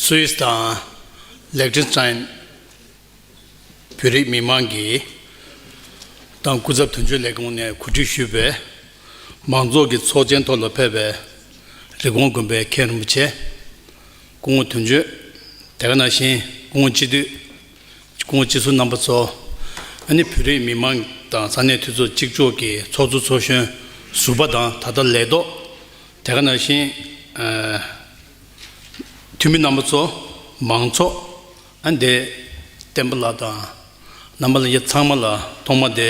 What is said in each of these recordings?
Swiss དང Liechtenstein བོད་རིགས་མི་དམངས་ཀྱིས་ཏང་སྐུ་ཚབ་དོན་གཅོད་ལས་ཁུངས་ནས་གོ་སྒྲིག་ཞུས་པའི་མང་ཚོགས་ཀྱི་ཚོགས་ཆེན་ཐོག་ལ་ཕེབས་པའི་རི་གོང་དགོན་པའི་མཁན་རིན་པོ་ཆེ་སྐུ་ངོ་དོན་གཅོད་དེ་ག་ནང་བཞིན་སྐུ་ངོ་སྤྱི་འཐུས་ཁོང་སྤྱི་ཟུར་རྣམ་པ་ཚོ། ཨ་ནི་བོད་རིགས་མི་མང་དང་ས་གནས་འཐུས་ཚོགས་གཅིག་ལྕོགས་ཀྱི་ཚོགས་གཙོ་ཚོགས་གཞོན་ཟུར་པ་དང་ད་ལྟ་ལས་ཐོག་དེ་ག་ན་བཞིན་འཐུས་མི་རྣམ་པ་ཚོ་མང་ཚོགས་ཨ་འདས་བསྟན་པ་ལགས་དང་རྣམ་པ་ལ་ཡ་ཚང་མ་ལ་ཐོག་མ་དེ་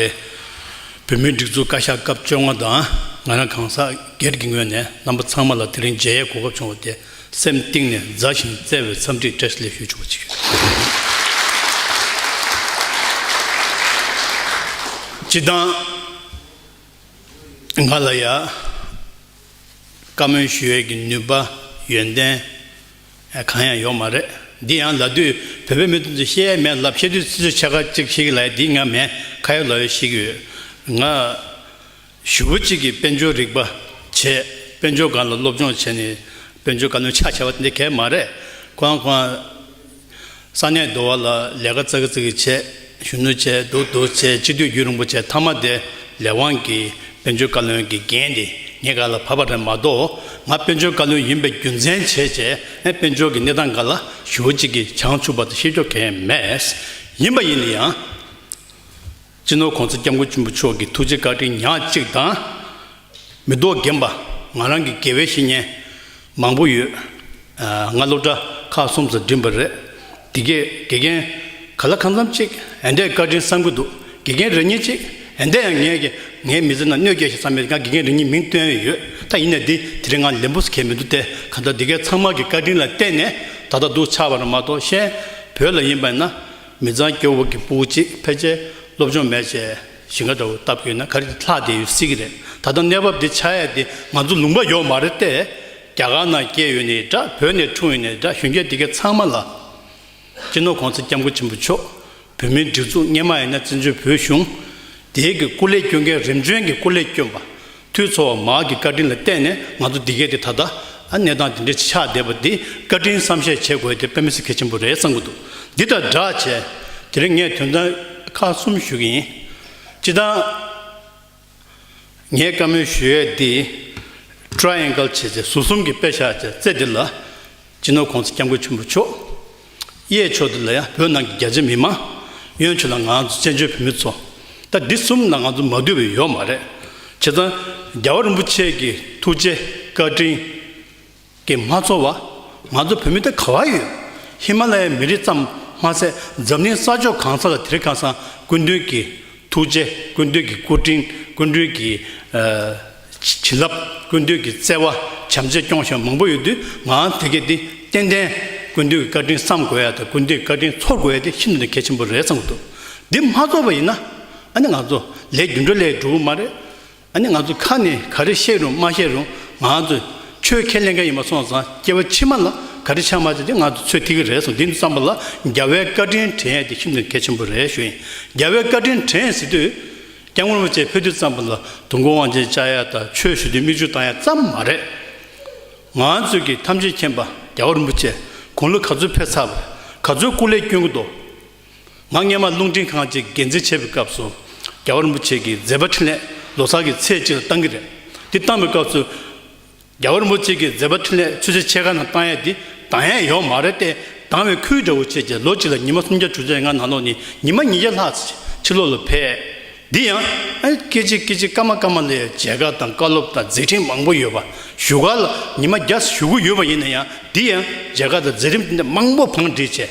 བོད་མིའི་སྒྲིག་འཛུགས་བཀའ་ཤག་སྐབས་བཅོ་ལྔ་དང་ང་རང་གང་ཟག་སྒེར་གྱི་ངོས་ནས་རྣམ་པ་ཚང་མ་ལ་དེ་རིང་མཇལ་ཡས་གོ་སྐབས་བྱུང་བ་དེ་སེམས་གཏིང་ནས་མཛའ་ཞིང་བརྩེ་བའི་འཚམས་འདྲིའི་བཀྲ་ཤིས་ལེགས་ཞུ་ཆོག་པ་ཅིག་ཡོད། སྤྱི་བཏང། ང་ལ་ཡང། བཀའ་མོལ་ཞུ་ཡས་ཀྱི་ནུས་པ། ཡོན་ཏན། གང་ཡང་ཡོག་མ་རེད། འདི་ཡང་ལ་དུས་བོད་པའི་མི་དུ་ཚོས་བཤད་ཡས་མེད་ལབ་བཤད་དུས་ཚིག་ཆོས་ཆ་ག་ཅིག་ཤིག་ལ་ཡས་འདི་ང་མེད་ཁ་ཡོག་ལོག་ཡོད་ཤིག་ཡོད། ང། ཞུ་བོ་གཅིག་གིས་དཔལ་འབྱོར་རིག་པ་བྱས། དཔལ་འབྱོར་སྒང་ལ་སློབ་སྦྱོང་བྱས་ནས་དཔལ་འབྱོར་བཀའ་བློན་ཆགས་བྱས་པ་འདི་གས་མ་རེད། ཁོང་ཁོང་ཨ། ས་གནས་རྡོ་བ་ལ་ལས་ཀ་རྩ་ཀི་རྩ་ཀི་བྱས། གཞོན་ནུ་བྱས་སྡུག་སྡུག་བྱས་སྤྱི་འཐུས་རྒྱུད་རིང་པོ་བྱས་མཐའ་མ་དེ་ལས་དབང་གིས་དཔལ་འབྱོར་བཀའ་བློན་གི་འགན་དེ་ངའི་ག་ལ་བབས་པ་རེད་མ་གཏོགས་ང་དཔལ་འབྱོར་བཀའ་བློན་ཡིན་པའི་རྒྱུ་མཚན་བྱས་བྱས་ནས་དཔལ་འབྱོར་གི་གནས་སྟངས་འགའ་ལ་ཞུ་བོ་གཅིག་གིས་བྱང་ཆུབ་པ་དང་ཤེས་ཀྱོ་གས་མེད། ཡིན་པ་ཡིན་ཡང། སྤྱི་ནོར་གོང་ས་སྐྱབས་མགོན་ཆེན་པོ་མཆོག་གི་ཐུགས་རྗེ་བཀའ་དྲིན་ཉག་གཅིག་དང། མི་ལྡོག་རྒན་པ་ང་རང་གི་དགེ་བའི་བཤེས་གཉེན་མང་པོ་ཡོད། ང་སློབ་གྲྭ་ཁག་གསུམ་ཙམ་འགྲིམས་པ་རེད། དེ་གས་དགེ་རྒན་ག་ལ་གང་འཚམ་ཅིག་འད་འདྲའི་བཀའ་དྲིན་བསམ་གྱི་འདུག་དགེ་རྒན་རེ་གཉིས་ཅིག་འད་ཡང་ངས་ཀྱི་ངའི་མི་ཚེ་ནང་གནོད་སྐྱེལ་ཞིག་བསམ་མེད་ང་དགེ་རྒན་རེ་གཉིས་མིང་བཏོན་ཡོད་ད་ཡིན་ནའི་འདི་དེ་རིང་ང་ལས་འབུ་ཟ་གལ་མི་འདུག་སྟེ་ག་ད་འདི་གའི་ཚང་མ་གི་བཀའ་དྲིན་ལ་བརྟེན་ནས་ད་ལྟ་འདུག་ཆགས་པ་ར་མ་གཏོགས་གཞན་བོད་ལ་ཡིན་པ་ན། མི་གཙང་སྐྱོ་བོ་གི་སྤུ་གུ་གཅིག་ཕལ་ཆེར་སློབ་སྦྱོང་མེད་ཅེས་ཞིང་ཁ་འདྲ་བོ་ལྟ་བུ་ཡོད་ན་ག་རེ་ལྷག་བསྡད་ཡོད་སྲིད་ཀྱི་རེད་ད་ལྟ་གནས་བབ་འདི་ཆགས་ཡས་དེ་ང་ཚོ་ལུང་པ་ཡོག་མ་རེད་ཏེ། རྒྱ་གར་ནང་སྐྱེས་ཡོད་ནས་འདྲ་བོད་ནས་འཁྲུངས་ཡོད་ནས་འདྲ་གཞོན་སྐྱེས་འདི་གའི་ཚང་མ་ལ། སྤྱི་ནོར་གོང་ས་སྐྱབས་མགོན་ཆེན་པོ་མཆོག་བོད་མིའི་སྒྲིག་འཛུགས་གཉེར་མ་ཡིན་ན་བཙན་བྱོལ་བོད་གཞུང་འདིའི་གི་སྐུ་ལས་སྐྱོན་མཁན་རིམ་བྱོན་གྱི་སྐུ་ལས་སྐྱོན་པ། འཐུས་ཚོགས་དམག་གི་བཀའ་དྲིན་ལ་བརྟེན་ནས་ང་ཚོ་འདི་གས་ཏེ་ད་ལྟ་གནས་སྟངས་དེ་འདྲའི་ཆགས་བསྡད་པ་འདི་བཀའ་དྲིན་བསམ་ཤེས་བྱེད་དགོས་དེ་དཔེ་མི་སྲིད་གལ་ཆེན་པོ་རེད་བསམ་གྱི་འདུག་འདི་དང་སྦྲགས་བྱས་དེ་རིང་ངས་དོན་དག་ཁག་གསུམ་ཞུ་གི་ཡིན། སྤྱི་དང། ངས་བཀའ་མོལ་ཞུ་ཡས་འདི Triangle བྱས་ཚེ་ཟུར་གསུམ་གྱི་དཔེ་བཞག་བྱས་ཚེ་འདི་ལ་སྤྱི་ནོར་ཁོང་ཚེ་སྐྱབས་མགོན་ཆེན་པོ་མཆོག་གཡས་ཕྱོགས་འདི་ལ་ཡང་བོད་ནང་གི་རྒྱ་ཆེ་མི་མང། གཡོན་ཕྱོགས་ལ་ང་ཚོ་བཙན་བྱོལ་བོད་མི་ཚོ། ད་འདི་གསུམ་ལ་ང་ཚོ་མ་བསྡུར་བའི་ཡོ་མ་རེད། བྱས་ཙང། རྒྱལ་བ་རིན་པོ་ཆེ་གི་ཐུགས་རྗེ་བཀའ་དྲིན། གིས་མ་ཚོར་བ། ང་ཚོ་བོད་མི་ད་ག་བ་ཡོད། ཧི་མ་ལ་ཡའི་མི་རིགས་ཙམ་མ་ཟད་འཛམ་གླིང་ས་ཕྱོགས་གང་ས་ལ་དེ་རིགས་ཁ་སང་སྐུ་མདུན་གི་ཐུགས་རྗེ་སྐུ་མདུན་གི་སྐུ་དྲིན་སྐུ་མདུན་གི། བྱིན་རླབས་ཀུན་འདུས་ཀྱི་བརྩེ་བ་བྱམས་བརྩེ་སྐྱོང་བཞིན་མང་པོ་ཡོད་དུས་ངའང་དེ་གས་དེ་ཏན་ཏན་ཀུན་འདུས་ཀྱི་བཀའ་དྲིན་བསམ་དགོས་ཡ་དང་ཀུན་འདུས་ཀྱི་བཀའ་དྲིན་ཚོར་དགོས་ཡ་དེ་ཤིན་ཏུ་ནས་གལ་ཆེན་པོ་རེད་བསམ་གྱི་འདུག་འདི་མ་ཚོར་བ་ཡིན་ན་ཨ་ནི་ང་ཚོ་ལས་རྒྱུ་འགྲོ་ལས་འགྲོ་གི་མ་རེད། ཨ་ནི་ང་ཚོ་ཁ་ནས་ག་རེ་བཤད་རུང་མ་བཤད་རུང་ང་ཚོས་ཆོས་ཁས་ལེན་མཁན་ཡིན་པ་སོང་ཙང་སྐྱེ་བ་ཕྱི་མ་ལ་ག་རེ་ཆགས་མ་ཆགས་དེ་ང་ཚོས་ཚོད་ཐིག་གི་རེད་སོང་འདི་བསམ་པ་ལ་རྒྱ་བལ་བཀའ་དྲིན་དྲན་ཡ་དེ་ཤིན་ཏུ་ནས་གལ་ཆེན་པོ་རེད་ཞུ་ཡིན་རྒྱ་བལ་བཀའ་དྲིན་དྲན་ཟེར་དུས། སྐྱ་ངོར་མོ་བཅས་ཕུད་དུས་ཙམ་པོ་ལ་དུང་མགོ་དབང་ཆེན་བཅའ་ཡ་དང་ཆོས་ཞུ་དུས་མིག་ཆུ་བཏང་ཡ་ཙམ་མ་རེད། ང་ཚོས་ཀྱིས་ཐམས་ཅད་མཁྱེན་པ་རྒྱ་གར་མོ་བཅས་དགུང་ལོ་ག་ཚོད་ཕེབས་ཚར་བར་ག་ཚོད་སྐུ་ལས་བསྐྱོན་གི་འདུག་ང་སྔས་མ་རླུང་འཕྲིན་ཁང་ཅིག་འགན་འཛིན་བྱས་པའི་སྐབས་སུ་རྒྱ་གར་མོ་བཅས་ཀྱིས་མཛད་པ་འཕྲིན་ལས་ལོ་སར་གྱི་ཚེས་གཅིག་ལ་བཏང་གི་རེད་དེ་བཏང་བའི་སྐབས་སུ། རྒྱ་ཧོར་མོ་གཅིག་གིས་མཛད་པ་འཕྲིན་ལས་ཆུ་ཚོད་ཕྱེད་ཀ་ནང་བཏང་ཡས་དེ་དང་ཡས་ཡོག་མ་རེད་ཏེ་དང་བའི་ཁུལ་འདྲ་བོ་བྱས་རྗེས་ལོ་གཅིག་ལ་ཉི་མ་སུམ་བརྒྱ་དྲུག་བརྒྱ་ལྔ་ནང་ལོག་ནས་ཉི་མ་ཉིས་བརྒྱ་ལྷག་ཚེ་ཕྱི་ལོག་ལ་བས། འདི་ཡང། སྐད་ཅིག་སྐད་ཅིག་སྐར་མ་སྐར་མ་ལ་ཡང་མཇལ་ཁ་དང་བཀའ་སློབ་དང་མཛད་འཕྲིན་མང་པོ་ཡོད་པ་བཞུགས་སྒར་ལ་ཉི་མ་བརྒྱ་བཞུགས་གི་ཡོད་པ་ཡིན་ན་ཡང་འདི་ཡང་མཇལ་ཁ་དང་མཛད་རིམ་མང་པོ་བང་སྒྲིག་བྱས་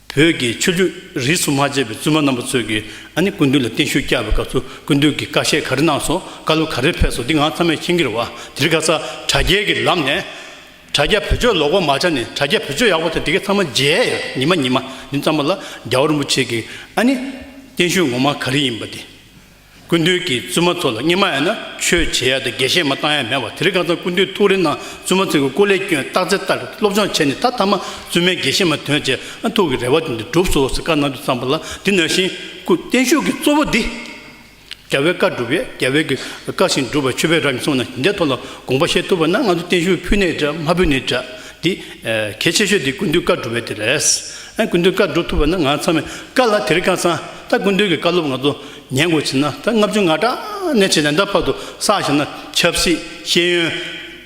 བོད་ཀྱི་ཆོས་རྒྱུད་རིས་སུ་མ་ཆད་པའི་བཙུན་མ་རྣམ་པ་ཚོས་ཀྱི་ཨ་ནི་ཀུན་བཏུས་ལ་བརྟན་བཞུགས་བསྐྱལ་བའི་སྐབས་སུ་ཀུན་བཏུས་ཀྱི་བཀའ་བཤད་ག་རེ་གནང་སོང་བཀའ་སློབ་ག་རེ་ཕེབས་སོང་འདི་འང་ཚང་མས་མཁྱེན་གྱི་རེད་བ་དེར་ག་ས་དྲ་རྒྱའི་གྱི་ལམ་ནས་དྲ་རྒྱ་བོད་ཆོས་ལོག་པ་མ་ཆགས་ནས་དྲ་རྒྱ་བོད་ཆོས་ཡག་པོ་དེ་དེ་གས་ཚང་མ་མཇལ་ཡོད་ཉི་མ་ཉི་མ་འདི་ཙམ་པ་ལ་རྒྱ་བོ་རིན་པོ་ཆེ་གྱི་ཨ་ནི་བརྟན་བཞུགས་ངོ་མ་ག་རེ་ཡིན་པ་དེ། ཀུན་འདུས་ཀྱི་བཙུན་མ་ཚོ་ལ་སྙིང་མ་ཡང་ན་ཆོས་བྱེད་ཡ་དང་དགེ་བཤེས་མ་བཏང་ཡ་མེད་བ་དེ་རིགས་གང་ཚང་ཀུན་འདུས་ཐུགས་རེ་གནང་བཙུན་མ་ཚོའི་གི་སྐུ་ལས་སྐྱོན་བཏགས་ཚེ་བཏགས་གི་སློབ་སྦྱོང་བྱས་ནས་ད་ཐ་མ་བཙུན་མའི་དགེ་བཤེས་མ་དོན་བྱས་ན་ཐུགས་ཀྱི་རེ་བ་དེ་འདི་འགྲུབ་སོ་ཟེར་བཀའ་གནང་རྒྱུ་བརྩམས་པ་ལ་འདི་ན་བཞིན་སྐུ་བརྟན་བཞུགས་ཀྱི་གཙོ་བོ་འདི། རྒྱལ་བའི་བཀའ་སྒྲུབ་ཡ་རྒྱལ་བའི་གི་བཀའ་བཞིན་སྒྲུབ་པ་ཆོས་པའི་རབ་ཡིན་གསུངས་ན་ཞིང་དེ་ཐོག་ལ་དགོངས་པ་བཞེས་ཐུབ་པ་ན་ང་ཚོ་བརྟན་བཞུགས་ཕུལ་ནས་འདྲ་མ་ཕུལ་ནས་འདྲ་འདི་གལ་ཆེ་ཤོས་འདི་ཀུན་འདུས་བཀའ་སྒྲུབ་པའི་དེ་རེད། ཀུན་འདུས་བཀའ་སྒྲུབ་ཐུབ་པ་ན་ང་ཚང་མས་བཀའ་ལ་དེ་རིགས་གང་ཚང། ད་ཀུན་འདུས་ཀྱི་བཀའ་སློབ་ང་ཚོ་ཉན་དགོས་ཕྱིན་ན་ད་ལྔ་བཅུ་ང་གྲངས་ནས་བྱེད་ནས་ད་བར་དུ་བསགས་བཞིན་ན་ཆབ་སྲིད་ཤེས་ཡོན།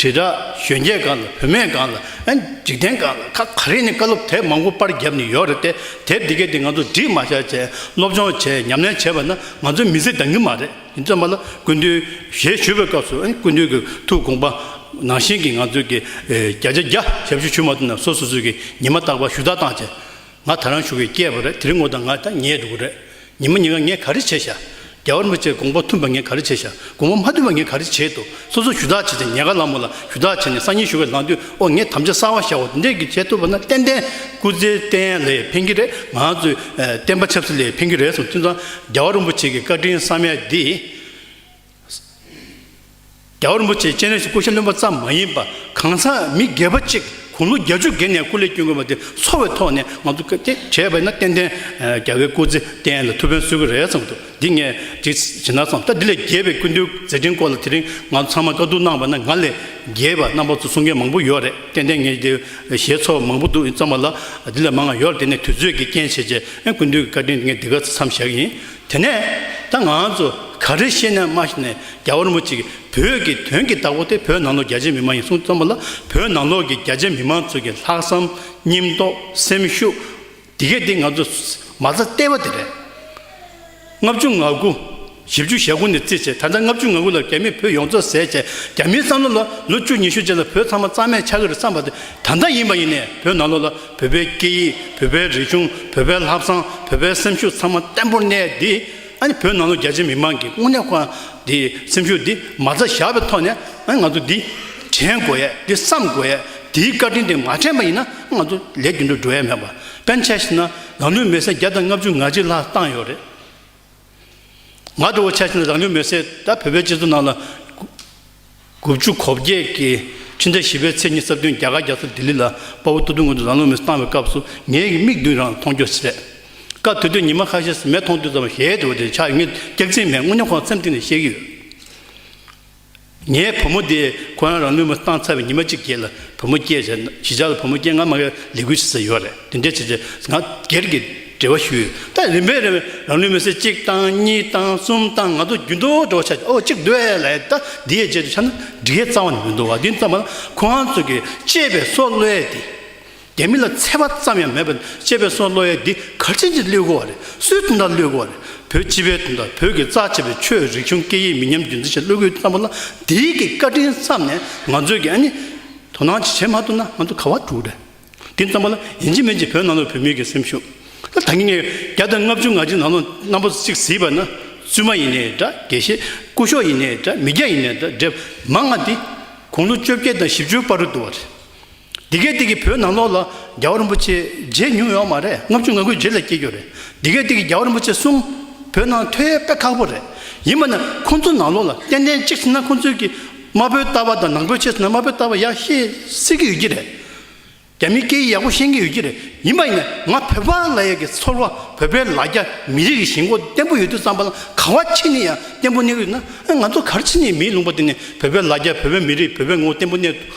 དྲིལ་བསྒྲགས་གཞོན་སྐྱེས་སྒང་ལ་བུད་མེད་སྒང་ལ་འཇིག་རྟེན་སྒང་ལ་ཁ་ག་རེ་ནས་བཀའ་སློབ་དེབ་མང་པོ་པར་བརྒྱབ་ནས་ཡོད་རེད་དེ་དེབ་དེ་གས་དེ་ང་ཚོ་འདྲིས་མ་བྱས་བྱས་སློབ་སྦྱོང་བྱས་ཉམས་ལེན་བྱས་པ་ན་ང་ཚོའི་མི་ཚེ་འདང་གི་མ་རེད་ཡིན་བརྩོན་པ་ལ་ཀུན་འདུས་ཞེས་ཞུ་བའི་སྐབས་སུ་ཀུན་འདུས་ཀྱི་ཐུགས་དགོངས་པ་ནང་བཞིན་གྱི་ང་ཚོའི་གི་བརྒྱ་ཆ་བརྒྱ་ཞབས་ཞུ་ཞུ་མ་ཐུབ་ན་སོ་སོ་སོའི་གི་ཉི་མ་རྟག་པར་ཞུ་དག་བཏང་བྱས། ང་ད་རང་ཞུ་བའི་སྐྱེས་པ་རེད་དེ་རིང་ངོ་དང་ང་ད་ཉལ་འདུག་གི་རེད། ཉི་མ་ཉི་ང་ངས་ག་རེ་བྱས་ཤག། རྒྱ་བར་མི་ཚེ་དགོངས་པ་མཐུན་པ་ངས་ག་རེ་བྱས་ཤག་དགོངས་པ་མ་མཐུན་པ་ངས་ག་རེ་བྱས་འདུག་སོ་སོ་ཞུ་དག་བྱས་ཚེ་ཉལ་ག་ལ་མོ་ལ་ཞུ་དག་བྱས་ནས་སང་ཉིན་ཞུ་བའི་ལངས་དུས་ཨོ་ངས་དམ་བཅའ་གསར་བ་ཞག་འོ་དེ་འདྲས་ཀྱི་བྱས་ཐུབ་པ་ན་ཏན་ཏན་སྐུ་ཚེ་བརྟན་ལས་འཕེན་གྱི་རེད་ང་ཚོའི་བསྟན་པ་ཆབ་སྲིད་ལས་འཕེན་གྱི་རེད་གསུངས་དུས་ན་རྒྱ་བ་རིན་པོ་ཆེ་གི་བཀའ་དྲིན་བསམ་ཡས་འདི། རྒྱ་བ་རིན་པོ་ཆེ་སྤྱན་རས་གཟིགས་སྐུ་ཞབས་བློན་པོ་ཙམ་མ་ཡིན་པར་གང་ཟག་མི་སྒེར་པ་གཅིག་དགུང་ལོ་བརྒྱ་བཅུ་བརྒལ་ནས་སྐུ་ལས་བསྐྱོན་དགོས་པ་དེ་འཚོ་བའི་ཐོག་ནས་ང་ཚོ་སྐད་ཅིག་བྱས་པས་ན་ཏན་ཏན་རྒྱ་བའི་སྐུ་ཚེ་བརྟན་ལ་ཐུགས་ཕན་གསོས་ཀྱི་རེད་བསམ་འདུག་འདི་ངས་འདྲི་ཇི་ན་སོང་ད་འདི་ལས་རྒྱས་པའི་ཀུན་འདུས་མཛད་འཕྲིན་སྐོར་ལ་དེ་རིང་ང་ཚོ་ཚང་མ་དཀའ་སྡུག་གནང་བ་ན་ང་ལས་རྒྱས་པ་རྣམ་པ་ཚོ་གསུང་མཁན་མང་པོ་ཡོད་རེད་ཏན་ཏན་ངས་འདི་ཞེས་ཚོར་བ་མང་པོ་འདུག་ཡིན་ཙམ་མ་ལ་འདི་ལས་མང་ང་ཡོད་རེད་དེ་ནས་དུས་ཚོད་ཀྱི་རྐྱེན་བྱས་རྗེས་ཀུན་འདུས་ཀྱི་བཀའ་དྲིན་འདི་ངས་འདི་གར་མཚམས་བཞག་ཡིན་དེ་ནས་ད་ང་ཚོ་ག་རེ་ཤེས་ནའི་མ་ཤེས་ནའི་རྒྱ་བོར་མོ་ཅིག་བོད་ཀྱི་དོན་གྱི་བདག་པོ་དེ་བོད་ནང་ལོགས་རྒྱ་ཆེ་མི་མང་ཡིན་གསུངས་ཙམ་མ་ལ་བོད་ནང་ལོགས་ཀྱི་རྒྱ་ཆེ་མི་མང་ཚོ་གི་ལྷག་བསམ་སྙིང་རྟོག་སེམས་ཤུགས་དེ་གས་དེ་ང་ཚོ་མ་རྩ་བལྟས་པ་དེ་རེད། ལྔ་བཅུ་ང་དགུ། བཞི་བཅུ་ཞེ་དགུ་ནས་བརྩིས་བྱས་ད་ལྟ་ལྔ་བཅུ་ང་དགུ་ལ་རྒྱ་མི་བོད་ཡོངས་རྫོགས་ཟས་བཅད་རྒྱ་མིའི་བསམ་བློ་ལ་ལོ་བཅུ་ཉི་ཤུ་རྗེས་ལ་བོད་ཚང་མ་གཙང་མས་ཆགས་ཀྱི་རེད་བསམ་པ་དེ་ད་ལྟ་ཡིན་པ་ཡིན་ནའི་བོད་ནང་ལོགས་ལ། བོད་པའི་སྐད་ཡིག་བོད་པའི་རིག་གཞུང་བོད་པའི་ལྷག་བསམ་བོད་པའི་སེམས་ཤུགས་ཚང་མ་བརྟན་པོར་གནས་ཏེ། བོད་ནང་ལོ་བརྒྱ་ཆའི་མི་མང་གི་དངོས་གནས་ཁོ་དེའི་སེམས་ཤུགས་དེ་མ་རྩ་བཞག་པའི་ཐོག་ནས་ང་ཚོ་འདི་དྲན་དགོས་ཡས་འདི་བསམ་དགོས་ཡས་དེའི་བཀའ་དྲིན་དེ་མ་དྲན་པ་ཡིན་ན་ང་ཚོ་ལས་རྒྱུ་འགྲོ་འགྲོ་ཡས་མེད་པ་དཔེ་མཚན་ཞིག་ན་ལམ་ལུས་མེད་སའི་བརྒྱ་དང་ལྔ་བཅུ་ང་གཅིག་ལྷག་བཏང་ཡོད་རེད། ང་དྲོ་བོ་ཆ་ཆེན་རང་ལུས་མེར་བསྲེགས་ད་བོད་པའི་སྤྱི་ཚོགས་ནང་ལ། དགུ་བཅུ་གོ་བརྒྱད་ཀྱི་ཕྱི་ཟླ་བཞི་པའི་ཚེས་གཉིས་སྲབ་སྟོན་རྒྱ་གར་རྒྱ་མཚོ་ལྡི་ལི་ལ་དཔའ་བོ་སྟོད་ཐུང་ངོས་འདུག་རང་ལུས་མེར་བཏང་བའི་སྐབས་སུ་ངའི་མིག་མདུན་རང་མཐོང་རྒྱུ་རེད། སྐབས་དེ་དུས་ཉི་མ་ཁ་ཤས་སུ་མེ་མཐོང་དུས་ཙམ་ཞལ་དྲོ་བོ་དེ་ཆགས་ཡོད་ངེས་སྐྱག་རྫིང་མས་རྔུལ་ཉོག་ཁོག་ཚེམ་སྟེང་ནས་བཤད་ཀྱི་ཡོད། ངའི་བུ་མོ་དེས་ཁོ་རང་རང་ལུས་མི་བཏང་ཚར་བའི་ཉི་མ་གཅིག་རྗེས་ལ་བུ་མོ་སྐྱེས། གཞིས་ཆགས་ལ་བུ་མོ་སྐྱེས་ང་མ་གཡར་ལས་ཁུལ་བྱེད་ས་ཡོད་རེད་དེ་འདྲའི་བྱས་རྗེས་ང་སྒེར་གྱི་འབྲེལ་བ་ཞུས་ཡོད་ད་རིམ་པས་རིམ་པས་རང་ལུས་མི་སེར་གཅིག་བཏང་གཉིས་བཏང་གསུམ་བཏང་ང་ཚོ་རྒྱུན་དུ་འགྲོ་བ་ཆགས་ཨོ་གཅིག་སྡོད་ལ་ཡོད་ད་འདི་ཡས་རྗེས་སུ་ཆགས་ན་འགྲིག་ཡས་རྩ་བ་ནས་མི་འདུག་བ་འདི་ཙམ་མ་ལ་ཁོང་རང་ཚོ་གི་གཅེས་པའི་སྲོག་བློས་ཏེ་རྒྱ་མི་ལ་འཚེ་བ་ཙམ་ཡང་མེད་པ་ཅེས་པའི་སྲོལ་བློ་ཡལ་འདི་ག་ཅིས་ཅིས་བསླུས་དགོས་བ་རེད་སུའི་དོན་དང་བསླུས་དགོས་བ་རེད་བོད་སྤྱི་པའི་དོན་དང་བོད་ཀྱི་རྩ་ཆེ་བའི་ཆོས་རིག་གཞུང་སྐད་ཡིག་མི་ཉམས་རྒྱུན་འཛིན་བྱེད་བློ་གུས་བརྟན་པོ་ལ་འདིའི་གི་བཀའ་དྲིན་བསམ་ནས་ང་ཚོས་གི་ཨ་ནི་དོ་སྣང་ཅིག་བྱེད་མ་ཐུབ་ན་ང་ཚོ་ག་བ་འགྲོ་རེད་དེ་ཙམ་པོ་ལ་ཡིན་གྱི་མིན་གྱི་བོད་ནང་ལོག་བོད་མི་གི་སེམས་ཤུགས་ད་ངེད་ངེད་བརྒྱ་དང་ལྔ་བཅུ་ང་གཅིག་ནང་ལོག་རྣམ་པོ་ཅིག་བཟི་བ་ན་བཙུན་མ་ཡིན་ནའི་འདྲ་དགེ་བཤེས་སྐུ་ཤོག་ཡིན་ནའི་འདྲ་མི་སྐྱ་ཡིན་ནའི་འདྲ་འདྲེ་མང་ང་འདི་དགུང་ལོ་བཅོ་བརྒྱད་དང་བཞི་བཅུའི་བར་དུ་འདུ་བ་རེད་འདི་གའི་སྟེང་གི་བོད་ནང་ལོགས་ལ་རྒྱལ་བ་རིན་པོ་ཆེའི་རྗེས་ཉུང་ཡོད་མ་རེད་ལྔ་བཅུ་ང་དགུའི་རྗེས་ལ་སྐྱེས་རྒྱུ་རེད་འདི་གའི་སྟེང་གི་རྒྱལ་བ་རིན་པོ་ཆེ་གསུམ་བོད་ནང་ཐོས་ཡས་དཔེ་ཁག་པོ་རེད་ཡིན་པ་ན་ཁོང་ཚོ་ནང་ལོགས་ལ་ཏན་ཏན་གཅིག་ཟིན་ན་ཁོང་ཚོའི་གི་དམར་པོའི་ལྟ་བ་དང་ནང་པོའི་ཆེད་ཟིན་ན་དམར་པོའི་ལྟ་བ་ཡག་ཤེས་སྲིད་ཀྱི་ཡོད་ཀྱི་རེད་རྒྱ་མིའི་སྐད་ཡིག་ཡག་པོ་ཤེས་ཀྱི་ཡོད་ཀྱི་རེད་ཡིན་པ་ཡིན་ན་ང་བོད་པ་ལ་ཡག་གི་ཚོར་བ་བོད་པའི་ལ་རྒྱ་མི་རིགས་ཀྱི་ཞེན་ཁོག་བརྟན་པོ་ཡོད་དུས་བསམ་པ་ན་ག་བ་ཁྱེད་ནས་ཡང་བརྟན་པོ་གནས་ཀྱི་ཡོད་ན་ང་ཚོ་གར་ཕྱིན་ནས་མིའི་ལུང་པ་དེ་ནས་བོད་པའི་ལ་རྒྱ་བོད་པའི་མི་རིགས་བོད་པའི་ངོ་བོ་བརྟན་པོ་གནས་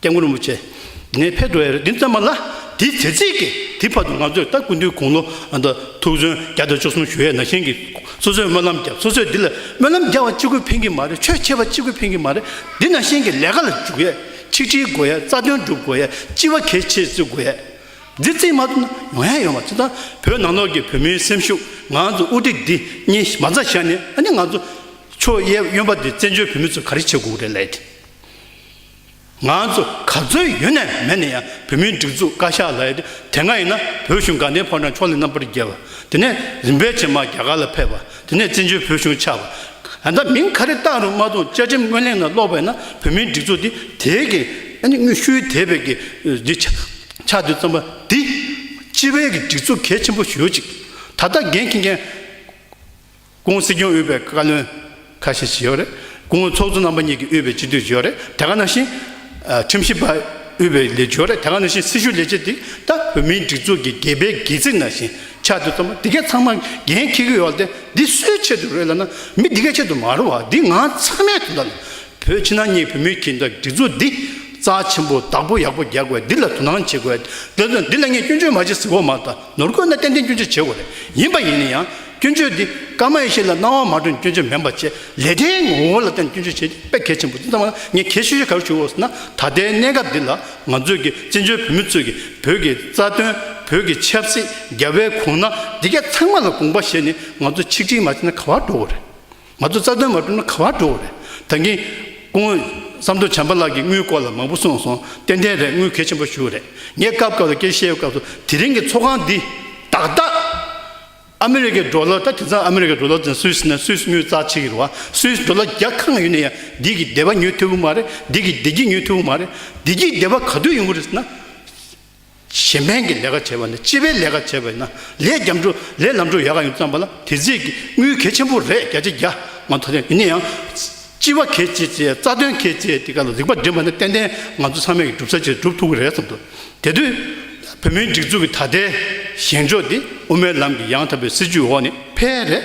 སྐྱབས་མགོན་རིན་པོ་ཆེ། ངས་ཕེབས་འགྲོ་ཡ་རེད་འདི་ཙམ་མ་ལ། དེའི་ཚེ་ཚིག་གིས་དེའི་བར་དུ་ང་ཚོས་ད་ཀུན་ཏུའི་དགུང་ལོ་ཨ་མདོ་ཐུགས་བརྩོན་བརྒྱ་དང་བཅུ་གསུམ་ཞུ་ཡས་ན་གཞན་གྱིས་སོ་སོས་སྨོན་ལམ་བརྒྱབ་སོ་སོས་འདི་ལ་སྨོན་ལམ་རྒྱག་བ་གཅིག་པུས་ཕན་གྱི་མ་རེད་ཆོས་འཆད་པ་གཅིག་པུས་ཕན་གྱི་མ་རེད་འདི་ན་གཞན་གྱི་ལས་ཀ་ལ་འཇུག་ཡས་ཆིག་སྒྲིལ་དགོས་ཡས་རྩ་དོན་སྒྲུབ་དགོས་ཡས་སྤྱི་བ་གལ་ཆེ་བརྩི་དགོས་ཡས། འདི་ཙིག་མ་ཏུ་ན་ཡོང་ཡས་ཡོང་བ་ཚོ་དང་བོད་ནང་ལོགས་ཀྱི་བོད་མིའི་སེམས་ཤུགས་ང་ཚོ་དབུ་ཁྲིད་འདི་གཉིས་མ་རྩ་བཞག་ནས་ཨ་ནི་ང་ཚོ་ཆོས་ཡས་གཡོན་པ་འདི་བཙན་བྱོལ་བོད་མི་ཚོ་ག་རེ་བྱེད་དགོས་རེད་ལས་དེ། ང་ཚོ་ག་ཚོད་ཡོད་ནས་མེད་ནས་ཡང་བོད་མིའི་སྒྲིག་འཛུགས་བཀའ་ཤག་ལ་ཡོད་དེ་དེ་སྔ་ཡིན་ན་བོད་གཞུང་དགའ་ལྡན་ཕོ་བྲང་ཕྱོགས་ལས་རྣམ་པར་རྒྱལ་བ་དེ་ནས་རིམ་པས་ཇེ་མང་རྒྱ་གར་ལ་ཕེབས་པ་དེ་ནས་བཙན་བྱོལ་བོད་གཞུང་ཆགས་པ་ད་ལྟ་མིང་ག་རེ་བཏགས་རུང་མ་རྡུང་བཅའ་ཁྲིམས་སྔོན་གླེང་ན་ཀློག་པས་ན་བོད་མིའི་སྒྲིག་འཛུགས་འདི་དེའི་གི་དངོས་ཤུལ་དེ་བས་གི་འདི་ཆགས་འདོད་བརྩམས་པ་འདི་སྤྱི་བའི་གི་སྒྲིག་འཛུགས་གལ་ཆེན་པོ་ཞིག་ཡོད་ཅིག་ད་ལྟ་འགན་འཁྱེར་མཁན། ཀུང་སི་ཁྱོན་ཨུད་པའི་བཀའ་བློན་ཁ་ཤས་ཤིག་ཡོད་རེད། ཀུང་ཨུ་ཚོགས་གཙོ་རྣམ་པ་གཉིས་ཀྱི་ཨུད་པའི་སྤྱི་འཐུས་ཤིག་ཡོད་རེད། དེ་ག་ནང་བཞིན། ཁྲིམས་ཞིབ་པ་ཨུད་པའི་ལས་བྱོལ་རེད། དེ་ག་ནང་བཞིན་སྲི་ཞུ་ལས་བྱེད་དེ་ད་བོད་མིའི་སྒྲིག་འཛུགས་ཀྱི་དགེ་འཕེལ་དགེ་ཚིག་ནང་བཞིན་ཆགས་འདུག་ཚང་མ་དེ་གས་ཚང་མ་འགན་འཁྱེར་གྱི་ཡོད་དེ་འདི་སུའི་ཆེད་དུ་རེད་ལབ་ན་མི་དེ་གས་ཆེད་དུ་མ་རུང་བ་འདི་ང་ཚང་མའི་དོན་དག་ལ་བོད་ཕྱི་ནང་གཉིས་བོད་མིའི་གྱི་འདྲ་སྒྲིག་འཛུགས་འདི་རྩ་ཆེན་པོ་བདག་པོ་ཡག་པོ་རྒྱག་དགོས་འདི་ལ་དོ་སྣང་བྱེད་དགོས་དེ་ཚོ་འདི་ལ་ངས་སྐྱོན་བརྗོད་མ་བྱེད་ཟིག་འོ་མ་ད། ནོར་བཀོད་ན་ཏན་ཏན་སྐྱོན་བརྗོད་བྱེད་དགོས་རེད། ཡིན་པ་ཡིན་ན་ཡང་སྐྱོན་བརྗོད་འདི་སྐར་མ་ཡེ་ཤེས་ལ་སྣང་བ་མ་སྤྲོད་སྐྱོན་བརྗོད་མིན་པ་བཅས་ལས་གྲྭའི་ངོ་བོ་ལ་བརྟེན་སྐྱོན་བརྗོད་བྱེད་དཔེ་གལ་ཆེན་པོ་འདི་ཙམ་ལ་ངས་ཁྱད་ཤོས་ཤིག་ག་རེ་ཞུ་འོས་ཟེར་ན་ད་ལྟའི་གནས་སྐབས་འདི་ལ་ང་ཚོས་ཀྱི་བཙན་བྱོལ་བོད་མི་ཚོས་ཀྱི་བོད་ཀྱི་རྩ་དོན་བོད་ཀྱི་ཆབ་སྲིད་རྒྱ་བལ་གོང་ན་འདི་ག་ཚང་མ་ལ་དགོངས་པ་བཞེས་ནས་ང་ཚོ་ཆིག་སྒྲིལ་མ་བྱས་ན་ག་བར་འགྲོ་གི་རེད། ང་ཚོ་རྩ་དོན་མ་གྲུབ་ན་ག་བར་འགྲོ་བ་རེད། ད་གིན། སྐུ་ངོ། བསམ་དོ་བྱམས་པ་ལགས་ཀྱིས་དངུལ་སྐོར་ལ་མང་པོ་གསུངས་སོང་ཏན་ཏན་རེད་དངུལ་གལ་ཆེན་པོ་ཞུ་རེད། ངས་སྐབས་སྐབས་ལ་སྐད་བཤད་སྐབས་སུ་དེ་རིང་གི་ཚོགས་ཁང་འདི། ཏག་ཏག། ཨ་མི་རི་ཀའི་འགྲོ་ལོ་ད་དེང་སང་ཨ་མི་རི་ཀའི་འགྲོ་ལོ་ཟེར་སུད་སི་ནས་སུད་སི་དངུལ་རྩ་ཆེ་གི་རུ་བ་སུད་སི་འགྲོ་ལོ་རྒྱ་གང་ཡོད་ནས་ཡང་འདི་གི་སྡེ་བ་ཉོས་ཐུབ་ཀི་མ་རེད་འདི་གི་སྡེ་གྱི་ཉོས་ཐུབ་ཀི་མ་རེད་འདི་གྱི་སྡེ་བ་ག་དུས་ཡོང་གི་རེད་ཟེར་ན། བྱེ་སྨན་གྱི་ལས་ཀ་བྱེད་པ་ནི་སྤྱི་པའི་ལས་ཀ་བྱེད་པ་ཡིན་ན་ལས་རྒྱ་མཚོ་ལས་ལམ་འགྲོ་ཡག་ག་ཡིན་བརྩམས་པ་ལ་དེ་རྫས་ཀྱི་དངུལ་གལ་ཆེན་པོ་རེད་རྒྱ་ཆེ་རྒྱ་མང་ཐོག་ཡིན་ན་ཡང། སྤྱི་བ་གལ་ཆེ་ཆེ་རྩ་དོན་གལ་ཆེ་དེ་ག་ལ་རིག་པ་འདྲེན་པ་ནི་ཏན་ཏན་ང་ཚོ་ཚང་མས་སྒྲུབ་ས་ཆེད་སྒྲུབ་ཐུབ་ཀྱི་རེད་བསམ་འདུག་དེ་དུས་བོད་མིའི་སྒྲིག་འཛུགས་ཀྱི་ད་ལྟའི་བཞེངས་ཕྱོགས་འདི་དབུ་མའི་ལམ་གྱི་ཡང་དག་པའི་སྲིད་བྱུས་འོག་ནས་ཕལ་རེ་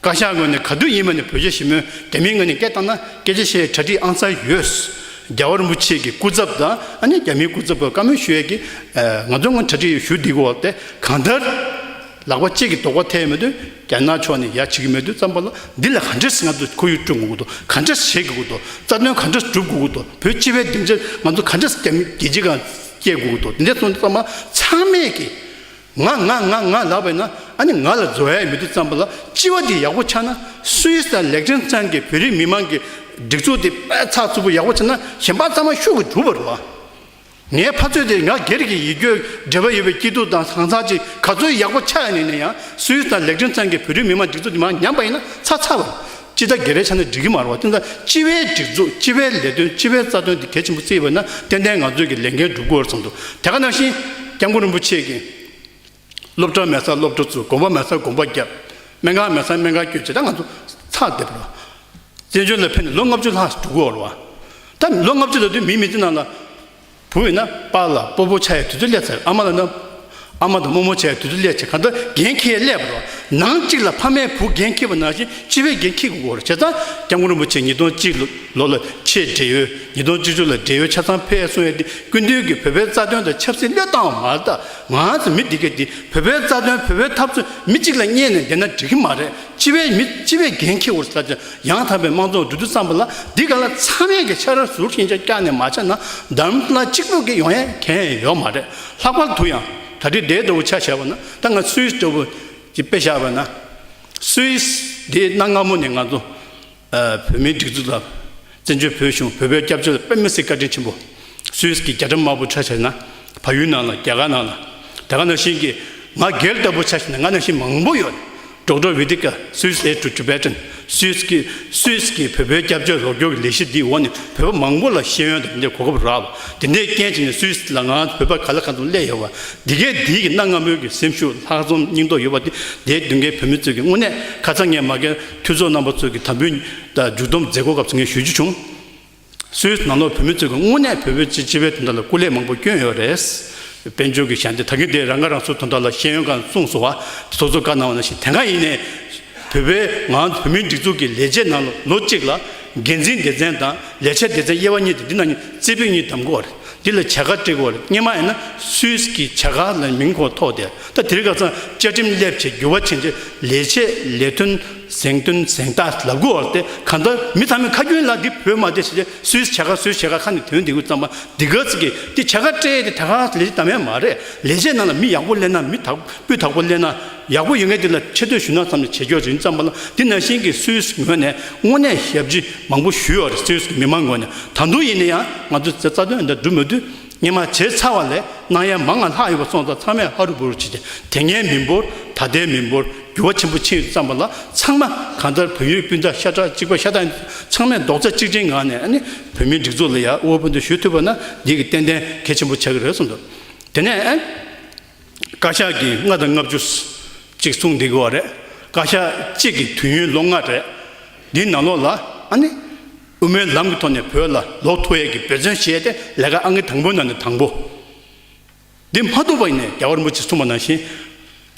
བཀའ་ཤག་ངོས་ནས་ག་དུས་ཡིན་མ་ནས་བོད་རྒྱ་ཞི་མོལ་དེ་མིན་ངོས་ནས་སྐད་བཏང་ན་སྐད་ཆ་བཤད་ཡའི་གྲ་སྒྲིག་ཨང་གསར་ཡོད། རྒྱ་བར་མུ་ཆེ་གི་སྐུ་ཚབ་དང་ཨ་ནེ་རྒྱ་མིའི་སྐུ་ཚབ་བར་བཀའ་མོལ་ཞུ་ཡས་ཀི་ང་ཚོ་ངོས་གྲ་སྒྲིག་ཡོད་ཞུ་སྡིག་གི་འོག་དེ་གང་ལྟར་ལག་པ་གཅིག་གི་དོག་པ་ཐེག་མེད་དུ་རྒྱ་ནག་ཕྱོགས་ནས་ཡ་བྱེད་ཀི་མེད་དུ་བརྩམས་པ་ལ་འདི་ལ་ག་འདྲས་ང་ཚོ་ཁོར་ཡུག་སྐྲུན་དགོས་ཀི་འདུག་ག་འདྲས་བྱེད་ཀི་དགོས་འདུག་རྩ་དོན་ག་འདྲས་སྒྲུབ་དགོས་ཀི་འདུག་བོད་སྤྱི་བའི་བདེ་འཇགས་ང་ཚོ་ག་འདྲས་རྒྱ་མི་རྒྱལ་སྤྱི་གང་བསྐྱེལ་དགོས་ཀི་འདུག་འདི་འདྲས་སོང་ཙང་མ་ཚང་མས་ཀི་ང་ང་ང་ང་ལབ་པས་ན་ཨ་ནི་ང་ལ་རྫོ་ཡས་མི་འདུག་བརྩམས་པ་ལ་སྤྱི་བ་འདི་ཡག་པོ་ཆགས་ན Swiss དང་ལེགས་ཕྲེང་ཚང་གི་བོད་རིགས་མི་མང་གི་སྒྲིག་འཛུགས་དེ་དཔེ་ཚགས་ཚུད་པོ་ཡག་པོ་བྱས་ན་གཞན་པ་ཚང་མ་ཤུགས་ཀྱིས་གྲུབ་པར་རོགས་ཨ། ངའི་ཕ་ཚོད་དེ་ང་སྒེར་གྱི་ཡིད་སྐྱོ་འབྲེལ་བ་ཡོད་པའི་སྐྱིད་སྡུག་དང་གང་ཟག་ཅིག་ག་ཚོད་ཡག་པོ་ཆགས་ཡ་ནས་ནས་ཡང Swiss དང་ལེགས་ཕྲེང་ཚང་གི་བོད་རིགས་མི་མང་སྒྲིག་འཛུགས་དེ་མ་ཉམས་པ་ཡིན་ན་ཚ་ཚ་བར་སྤྱི་ཟླ་བརྒྱད་པའི་ཆ་ནས་སྒྲིག་གི་མ་རུང་བ་དེ་འདྲ་སྤྱི་བའི་སྒྲིག་འཛུགས་སྤྱི་བའི་ལས་དོན་སྤྱི་བའི་རྩ་དོན་དེ་གལ་ཆེན་པོ་བརྩིས་པ་ན་ཏན་ཏན་ང་ཚོས་ཀྱི་ལས་འགན་སྒྲུབ་དགོས་བར་མཚམས་འདུག་དེ་ག་ནང་བཞིན། སྐྱབས་མགོན་རིན་པོ་ཆེས་ཀྱིས། སློབ་གྲྭ་མེད་སར་སློབ་གྲྭ་བཙུགས་དགོན་པ་མེད་སར་དགོན་པ་བརྒྱབ། སྨན་ཁང་མེད་སར་སྨན་ཁང་བསྐྱོད་ཇི་ལྟར་ང་ཚོ་ཚགས་སྡེབ་རོགས། བཙན་བྱོལ་ལ་ཕེབས་ནས་ལོ་ལྔ་བཅུ་ལྷག་འགྲོ་དགོས་བར། ད་ལོ་ལྔ་བཅུ་ལ་དུས་མིན་མི་དེ་རྣམས་ལ། བུ་ཡིན་ན་པ་ལ་སྤོ་བོ་བྱ་ཡི་དུས་ཚོད་སླེབས་ཚར་ཨ་མ་ལ་ན་ཨ་མ་དང་རྨོ་མོ་བྱ་ཡི་དུས་ཚོད་སླེབས་ཚེ་གང་ལྟར་འགན་ཁྱེར་སླེབས་པ་རེད་ནང་གཅིག་ལ་ཕ་མས་བུ་འགན་འཁྱེར་བ་ནང་བཞིན་སྤྱི་བའི་འགན་འཁྱེར་དགོས་སྐོར་བྱས་ཙང་སྐྱབས་མགོན་རིན་པོ་ཆེས་ཉིས་སྟོང་གཅིག་ལོ་ལ་ཆེད་འབྲེལ་ཡོད་ཉིས་སྟོང་བཅུ་བཅུ་ལ་འབྲེལ་ཡོད་ཆ་ཚང་ཕེབས་གསུངས་ཡོད་དེ་སྐུ་མདུན་གྱིས་བོད་པའི་རྩ་དོན་དང་ཆབ་སྲིད་བློས་བཏང་བ་མ་གཏགས་ང་ཚོ་མི་འདི་གས་འདི་བོད་པའི་རྩ་དོན་བོད་པའི་འཐབ་རྩོད་མི་གཅིག་ལ་བསྙད་ནས་བསྡད་ན་འགྲིག་གི་མ་རེད། སྤྱི་བའི་མི་སྤྱི་བའི་འགན་འཁྱེར་བར་བྱ། ཡང་དག་པའི་དམངས་གཙོ་བདུད་དུ་བརྩམས་པ་ལ་འདི་ག་ལ་ཚང་མས་ཀྱི་ཕྱག་རར་ཟུར་ཞེན་ཆ་བཀག་ནས་མ་བྱས་ན་འདམ་ལ་གཅིག་པུ་གི་ཡོང་ཡ་གན་ཡོད་མ་རེད་ལྷག་པར་དུ་ཡང་ད་ལྟའི་དེ་ལྟ་བུ་ཆ་བྱས་པ་ན་ད་ང་སུའི་ལྟ་བུ་ཀྱི་དཔེ་བཞག་པ་ན་སུའི་དེའི་གནའ་སྔ་མོ་ནས་ང་ཚོ། བོད་མིའི་སྒྲིག་འཛུགས་དང། བཙན་བྱོལ་བོད་གཞུང་བོད་པའི་སྐྱབས་བཅོལ་དཔེ་མི་སྲིད་བཀའ་དྲིན་ཆེན་པོ། Swiss གི་རྒྱ་གྲམ་དམར་པོ་ཆ་བྱས་ན་བལ་ཡུལ་ནང་ལ་རྒྱ་གར་ནང་ལ་དེ་ག་ནང་བཞིན་གྱི་ང་རྒྱལ་ལྟ་བུ་ཆ་བྱས་ན་ང་ནང་བཞིན་མང་པོ་ཡོད་འགྲོགས་འགྲོགས་བི་དི་ཀ Swiss aid to Tibetan Swiss གི Swiss གི་བོད་པའི་སྐྱབས་བཅོལ་རོགས་སྐྱོར་གྱི་ལས་གཞི་འདིའི་འོག་ནས་བོད་པ་མང་པོ་ལ་ཤེས་ཡོན་དང་དེ་འདྲའི་གོ་སྐབས་རག་དེ་འདྲའི་རྐྱེན་བྱས་ནས Swiss ལ་ང་བོད་པ་ག་ལ་གང་དུ་སླེབས་ཡོད་བ་འདི་གའི་འདི་གི་གནའ་སྔ་མོའི་གི་སེམས་ཤུགས་ལྷག་རྩོམ་སྙིང་སྟོབས་ཡོད་བ་འདི་འདའི་མདུན་གའི་བོད་མི་ཚོས་གི་དངོས་གནས་ཁ་ཚ་ངས་མ་གས། འཐུས་ཚོགས་རྣམ་པ་གཙོས་ཀྱི་དམ་འབུལ་མཇུག་བསྡོམས་མཛད་སྒོ་སྐབས་ཚོགས་ངས་ཞུ་རྒྱུ་བྱུང། སུད་ནང་ལོག་བོད་མི་གཙོས་ཀྱི་དངོས་གནས་བོད་པའི་སྤྱི་བྱེ་བའི་དོན་དག་ལ་སྐུ་ལས་མང་པོ་བསྐྱོན་ཡོད་རེད། དཔལ་འབྱོར་གྱི་ཞན་ཏེ་ད་གིན་དེ་རང་ཁ་རང་གསོའི་དོན་དག་ལ་ཤེས་ཡོན་ཁང་གསུངས་སོང་བ་དེ་ཚོགས་གཙོ་བཀའ་གནང་བ་ནང་བཞིན་དེ་གང་ཡིན་ནས་བོད་པའི་ངང་བོད་མིའི་སྒྲིག་འཛུགས་ཀྱི་ལས་བྱེད་ནང་ལོ་གཅིག་ལ་འགན་འཛིན་སྡེ་ཚན་དང་ལས་བྱེད་སྡེ་ཚན་དབྱེ་བ་གཉིས་ཏེ་འདི་ནང་རྩེ་ཕུད་གཉིས་བདམས་དགོས་བ་རེད་འདི་ལ་བྱ་དགའ་སྤྲད་དགོས་བ་རེད་སྙེ་མ་ཡིན་ན་སུད་ཀྱི་བྱ་དགའ་ལ་མིང་ཁོངས་ཐོགས་ཏེ། ད་དེ་རིགས་ཀ་ཚང་བཅའ་ཁྲིམས་སླེབས་ཆེད་འགྱུར་བ་ཕྱིན་རྗེས་ལས་བྱེད་ལས་དོན་གཟེངས་བསྟོན་གཟེངས་རྟགས་ལབ་དགོས་བ་དེ་གང་ལྟར་མི་ཚང་མས་ཁ་རྒྱུན་ལ་འདི་བོད་མ་དེ་ཞེས་སུའི་བྱ་དགའ་སུའི་བྱེད་དགའ་ཁ་ནས་དོན་དེ་གུས་བརྩམས་པ་འདི་ག་ཚིག་གིས་དེ་བྱ་དགའ་སྤྲད་དེ་དེ་ག་ལས་བྱེད་དང་བས་མ་རེད་ལས་བྱེད་རྣམས་ལ་མི་ཡག་པོ་སླེབས་ན་མི་དག་པོས་དག་པོ་སླེབས་ན་ཡག་པོ་ཡོད་མཁན་དེ་ལ་ཆེ་བསྟོད་ཞུ་ན་ཙམ་ལས་བྱེད་རྒྱུ་རེད་བརྩམས་པ་ལ་འདི་ནང་བཞིན་གྱི་སུའི་ངོས་ནས་དངོས་གནས་ཞབས་ཕྱི་མང་པོ་ཞུས་བ་རེད་སུའི་མི་མང་ངོས་ནས་ད་དུང་ཡིན་ན་ཡང་ང་ཚོའི་རྩ་དོན་འདི་སྒྲུབ་མི་དུས་སྙན་མ་བྱས་ཚར་བ་ལས་སྣང་ཡ་མ་ང་ལྷག་ཡོད་པ་སོང་ཙང་ཚང་མས་ཧ་རུ་བུ་རུ་བྱས་ཏེ་དེ་སྔའི་མི་འབོར་ད་ལྟའི་མི་འབོར་འགྱུར་བ་ཆེན་པོ་ཕྱིན་ཡོད་ཙང་པ་ལ་ཚང་མ་གང་ལྟར་བོད་ཡུལ་སྤུན་ཟླ་ཤ་ཁྲག་གཅིག་པ་ཤ་སྟག་ཚང་མས་རྡོག་རྩ་གཅིག་སྒྲིལ་ངང་ནས་ནི་བོད་མིའི་སྒྲིག་འཛུགས་ལ་ཡར་དབུལ་པོ་འདི་ཞུ་ཐུབ་པ་ན་འདི་གི་ཏན་ཏན་གལ་ཆེན་པོ་ཆགས་ཀྱི་རེད་གསུངས་འདུག་དེ་ནས་བཀའ་ཤག་གིས་ལྔ་དང་ལྔ་བཅུ་ཅིག་གསུངས་བསྡད་དགོས་བ་རེད་བཀའ་ཤག་གཅིག་གི་དུས་ཡུན་ལོ་ལྔ་རེད་འདིའི་ནང་ལོགས་ལ་ཨ་ནི། དབུ་མའི་ལམ་གྱི་ཐོག་ནས་བོད་ལ་ལོག་མཐོ་ཡས་ཀྱི་འབད་བརྩོན་བྱས་ཏེ་ལས་ཀ་ཨང་ཀི་དང་པོའི་ནང་ནས་དང་པོ། འདི་མ་ཐུབ་པ་ཡིན་ནས་རྒྱ་གར་མུ་ཆེ་གསུངས་པ་ནང་བཞིན།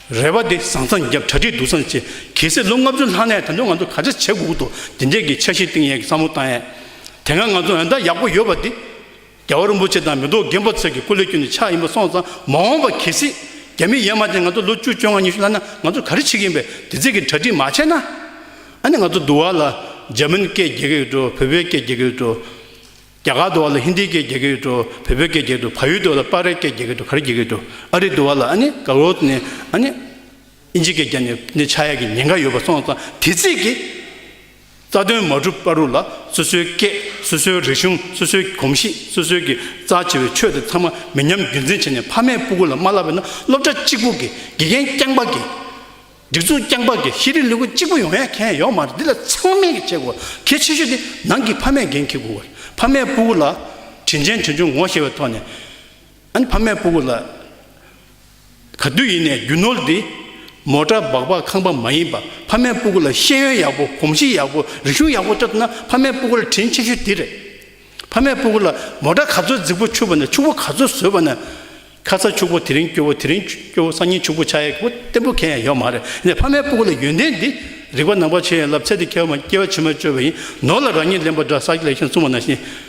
རེ་བ་འདི་བཟང་ཚང་རྒྱབ་གྲ་སྒྲིག་སྡུག་ཚང་བྱེད། གལ་སྲིད་ལོ་ལྔ་བཅུ་ལྷག་ནས་ད་དུང་ང་ཚོ་ག་ཚད་བྱེད་དགོས་དགོས་འདུག་འདི་འདྲས་ཀྱི་འཆར་གཞི་བཏིང་ཡས་ཀྱི་བསམ་བློ་བཏང་ཡས་དེ་སྔ་ང་ཚོ་འོན་ཏག་ཡག་པོ་ཡོད་པ་འདི། རྒྱལ་བ་རིན་པོ་ཆེ་དང་མེ་ཏོག་རྒན་པོ་ཚོས་ཀྱི་སྐུ་ལས་སྐྱོན་ནི་ཆགས་ཡིན་པ་སོང་ཙང་མ་འོངས་པ་གལ་སྲིད་རྒྱ་མི་ཡན་མ་ཅན་ང་ཚོ་ལོ་བཅུ་བཅོ་ལྔ་ཉི་ཤུ་ལྷག་ན་ང་ཚོར་ག་རེ་བྱེད་ཀྱི་ཡིན་པའི་དེ་ཚིག་གི་གྲ་སྒྲིག་མ་བྱས་ན་ཨ་ནི་ང་ཚོ་འདུ་བ་ལ་འཇར་མན་སྐད་རྒྱལ་གི་ཡོད་འགྲོ་བོད་པའི་སྐད་རྒྱལ་གི་ཡོད་འགྲོ། རྒྱ་གར་འདུ་བ་ལ་ཧིན་དིའི་སྐད་རྒྱལ་གི་ཡོད་འགྲོ་བོད་པའི་སྐད་རྒྱལ་གི་འགྲོ་བ་ཡུལ་འདུ་བ་ལ་པར་རའི་སྐད་རྒྱལ་གི་འགྲོ་ག་རེ་རྒྱལ་གི་ཡོད་འགྲོ་ཨ་རི་འདུ་བ་ལ་ཨ་ནི་ག་རོ་ནི་ཨ་ནི་ཨིན་ཇི་སྐད་རྒྱལ་ནི་ནི་ཆགས་ཡ་གི་ཉེན་ཁ་ཡོད་པ་སོང་ཙང་དེ་ཚིག་གི། རྩ་དོན་མ་གྲུབ་པ་རུ་ལ་སོ་སོའི་སྐད་སོ་སོའི་རིག་གཞུང་སོ་སོའི་གོམས་གཤིས་སོ་སོའི་གི་རྩ་ཆེ་བའི་ཆོས་དེ་ཚང་མ་མི་ཉམས་རྒྱུན་འཛིན་བྱས་ནས་ཕ་མས་སྤུ་གུ་ལ་མ་བསླབས་པས་ན་སློབ་གྲྭ་གཅིག་པུ་གི་དགེ་རྒན་རྐྱང་པ་གི་སྒྲིག་འཛུགས་རྐྱང་པ་གི་ཤེས་རིག་ལུས་པོ་གཅིག་པུ་ཡོང་ཡ་མཁན་ཡོག་མ་རེད་འདི་ལ་ཚང་མས་གི་བྱེད་དགོས་པ་གལ་ཆེ་ཤོས་དེ་ནང་གི་ཕ་མས་འགན་འཁྱེར་དགོས་པ་རེད་ཕ་མས་སྤུ་གུ་ལ་དྲིན་ཆེན་དྲིན་ཆུང་ངོ་ཤེས་པའི་ཐོག་ནས། ཨན་ཕ་མས་སྤུ་གུ་ལ། ག་དུས་ཡིན་ནས་རྒྱུ་ནོར་འདི། མོ་ཏྲ་སྦག་སྦག་ཁང་པ་མ་ཡིན་པ་ཕ་མས་སྤུ་གུ་ལ་ཤེས་ཡོན་ཡག་པོ་གོམས་གཤིས་ཡག་པོ་རིག་གཞུང་ཡག་པོ་སྤྲད་ཐུབ་ན་ཕ་མས་སྤུ་གུ་ལ་དྲིན་ཆེ་ཤོས་འདི་རེད། ཕ་མས་སྤུ་གུ་ལ་མོ་ཏྲ་ག་ཚོད་རྫིག་པོ་འཆུགས་པ་ནས་ཕྱུག་པོ་ག་ཚོད་བཟོས་པ་ནས། ཁ་ཚ་ཕྱུག་པོ་དེ་རིང་སྐྱོ་བོ་དེ་རིང་སྐྱོ་བོ་སང་ཉིན་ཕྱུག་པོ་ཆགས་ཡག་པོ་བརྟན་པོ་གན་ཡང་ཡོད་མ་རེད་ནས་ཕ་མས་སྤུ་གུ་ལ་ཡོན་ཏན་འདི། རིག་པ་ནང་པ་ཆེ་ཡིན་ལབ་ཚད་འདི་སྐྱེ་བ་མ་སྐྱེ་བ་ཕྱི་མ་བཅོས་པ་ཡིན་ནོར་ལ་རང་ཉིད་ལེན་པ་འདྲ་ས་ལེགས་ཤིང་བསྲུང་བ་ན་ཤིན།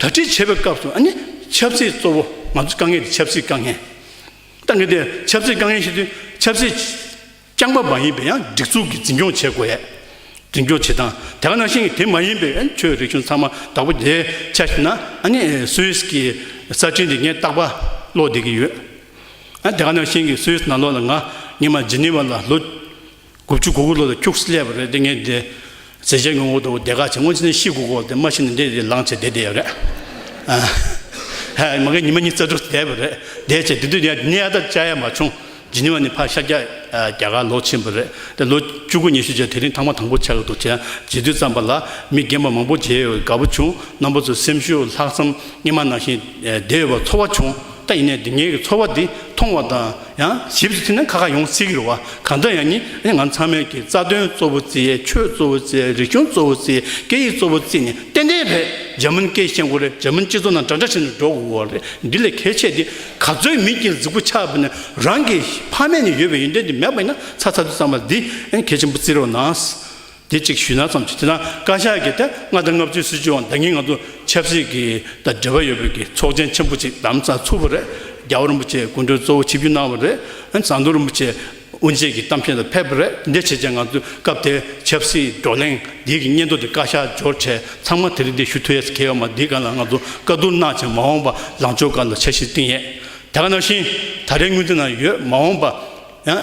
དག་སྒྲིག་བྱེད་པའི་སྐབས་སུ་ནི་ཆབ་སྲིད་གཙོ་བོ་ང་ཚོའི་དཀའ་ངལ་དེ་ཆབ་སྲིད་དཀའ་ངལ་ཏང་གི་དེ་ཆབ་སྲིད་དཀའ་ངལ་ཞིག་དུས་ཆབ་སྲིད་རྐྱང་པ་མ་ཡིན་པའི་ཡང་སྒྲིག་འཛུགས་ཀྱི་འཛིན་སྐྱོང་བྱེད་དགོས། འཛིན་སྐྱོང་བྱེད་སྟངས་དེ་ག་ནང་བཞིན་གྱི་དེ་མ་ཡིན་པའི་ཆོས་རིག་གཞུང་ཚང་མ་དྭགས་པོ་དེ་ཆ་ཞིག་ན་ནི་སུད་སི་གི་གསར་འཕྲིན་དེ་ངས་རྟག་པ་ཀློག་བསྡད་ཀྱི་ཡོད། དེ་ག་ནང་བཞིན་གྱི་སུད་སི་ནང་ལོགས་ལ་ང་ཉིད་མ་ཇི་ནི་ཝ་ལ་ལོ། དགུ་བཅུ་གོ་དགུ་ལོ་ལ་ཁྱུགས་སེ་སླེབས་པ་རེད་དེ་ངས་འདི་ཟེར་བྱས་ངོ་དགོ་དགོ་བསྡད་ཁ་བྱས་སྔོན་ཕྱི་ནས་ཤི་དགོ་དགོ་དེ་མ་ཤི་ནས་འདི་དེ་ལངས་བྱས་བསྡད་བསྡད་རེད། མ་གི་ཉི་མ་གཉིས་རྩ་དྲུག་བསྡད་པ་རེད་བསྡད་བྱས་དེ་དུས་ནས་ནི་ཨ་ད་ཅག་ཡ་མ་བྱུང་ཇི་ནི་བ་ནི་ཕ་ཤ་རྒྱ་རྒྱ་གར་ལོག་ཕྱིན་པ་རེད་དེ་ལོ་བཅུ་གོ་ཉི་ཤུ་བྱས་དེ་རིང་ཐང་མ་དང་པོ་བྱས་གི་འདུག་བྱས་བྱས་དུས་ཙམ་པ་ལ་མི་རྒན་པ་མང་པོ་བྱས་ཡོད་དགའ་པོ་བྱུང་རྣམ་པ་ཚོས་སེམས་ཤུགས་ལྷག་བསམ་སྙེ་མ་ནང་བཞིན་བསྡད་ཡོད་པ་ཚོར་བ་བྱུང་ད་ཡིན་ནས་འདི་ངས་ཀྱི་ཚོར་བ་འདི་མཐོང་བ་དང། ཡང་ཞིབ་ཏུ་ཐིམ་ན་ཁ་ཁ་ཡོངས་གསལ་གྱི་རུ་བ་གང་དག་ཡང་ནི་ང་ཚང་མས་ཀྱི་རྩ་དོན་གཙོ་བོ་རྩིས་ཆོས་གཙོ་བོ་རྩིས་རིག་གཞུང་གཙོ་བོ་རྩིས་སྐད་ཡིག་གཙོ་བོ་རྩིས་ནི་ཏན་ཏན་རེད་འཇར་མན་སྐད་ཤེས་མཁོ་རེད་འཇར་མན་སྤྱི་ཚོགས་ནང་འདྲ་འདྲ་བྱས་ནས་འགྲོ་འོ་རེད་འདི་ལས་གལ་ཆེ་དེ་ག་ཚོད་མིན་གྱི་གཟིགས་པོ་ཆགས་པ་ནི་རང་གི་ཕ་མེས་ནས་ཡོད་པའི་ཡོན་ཏན་དེ་མེད་པ་ཡིན་ན་ཚ་ཚ་དུ་བསམ་པ་འདི་གལ་ཆེན་པོ་བརྩི་རོགས་གནང། དེ་ཅིག་ཞུས་ན་ཙམ་གྱིས་དེ་དང་བཀའ་ཤག་གི་ཐེངས་ལྔ་དང་ལྔ་བཅུའི་སྲིད་བྱུས་འོག་འདང་ངེས་ང་ཚོ་ཆབ་སྲིད་ཀྱི་དང་འབྲེལ་བ་ཡོད་པའི་གི་ཚོགས་ཆེན་ཆེན་པོ་ཅིག་དམ་ཚགས་ཚུགས་པ་རེད་རྒྱ་བོད་རིན་པོ་ཆེ་སྐུ་མགྲོན་གཙོ་བོ་ཆིབས་བསྒྱུར་གནང་བ་རེད་ཟངས་མདོག་རིན་པོ་ཆེ་དབུ་འབྱེད་ཀྱི་གཏམ་བཤད་དུ་ཕེབས་པ་རེད་འདི་བྱས་རྗེས་ང་ཚོས་སྐབས་དེའི་ཆབ་སྲིད་བགྲོ་གླེང་འདི་གི་སྙན་ཐོ་དེ་བཀའ་ཤག་འབྱོར་འཕྲལ་ཚང་མ་དེ་རིང་འདི་ཞུ་ཐུ་ཡས་གལ་ཡོད་མ་འདི་ག་ལ་ང་ཚོ་བཀའ་བསྡུར་གནང་བྱས་མ་འོངས་པ་ལང་ཕྱོགས་ག་ལ་ཆ་ཤིས་གཏིང་ཡས་དེ་ག་ནང་བཞིན་ད་རེས་དངུལ་དེ་ན་ཡོད་མ་འོངས་པ་ཡང།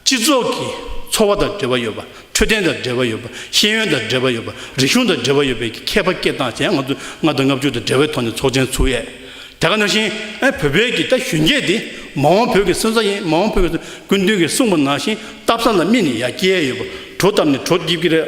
སྤྱི་ཚོགས་ཀྱི་འཚོ་བ་དང་འབྲེལ་བ་ཡོད་པ་འཕྲོད་བསྟེན་དང་འབྲེལ་བ་ཡོད་པ་ཤེས་ཡོན་དང་འབྲེལ་བ་ཡོད་པ་རིག་གཞུང་དང་འབྲེལ་བ་ཡོད་པའི་གི་མཁས་པ་སྐད་གདངས་ཅན་ང་ཚོས་ལྔ་དང་ལྔ་བཅུ་དང་འབྲེལ་བའི་ཐོག་ནས་ཚོགས་ཆེན་ཚུགས་ཡས་དེ་ག་ནང་བཞིན་ཨེ་བོད་པའི་གི་ད་གཞོན་སྐྱེས་དེ་མ་འོང་བོད་ཀྱི་སོན་རྩ་ཡིན་མ་འོང་བོད་ཀྱི་སོན་ཀུན་མཐུན་གི་གསུངས་པ་ནང་བཞིན་བཏབ་ས་ལ་སྨིན་ནས་ཡ་སྐྱེས་ཡས་ཡོད་པ་གྲོ་བཏབ་ནས་གྲོ་སྐྱིབ་ཀྱི་རེད།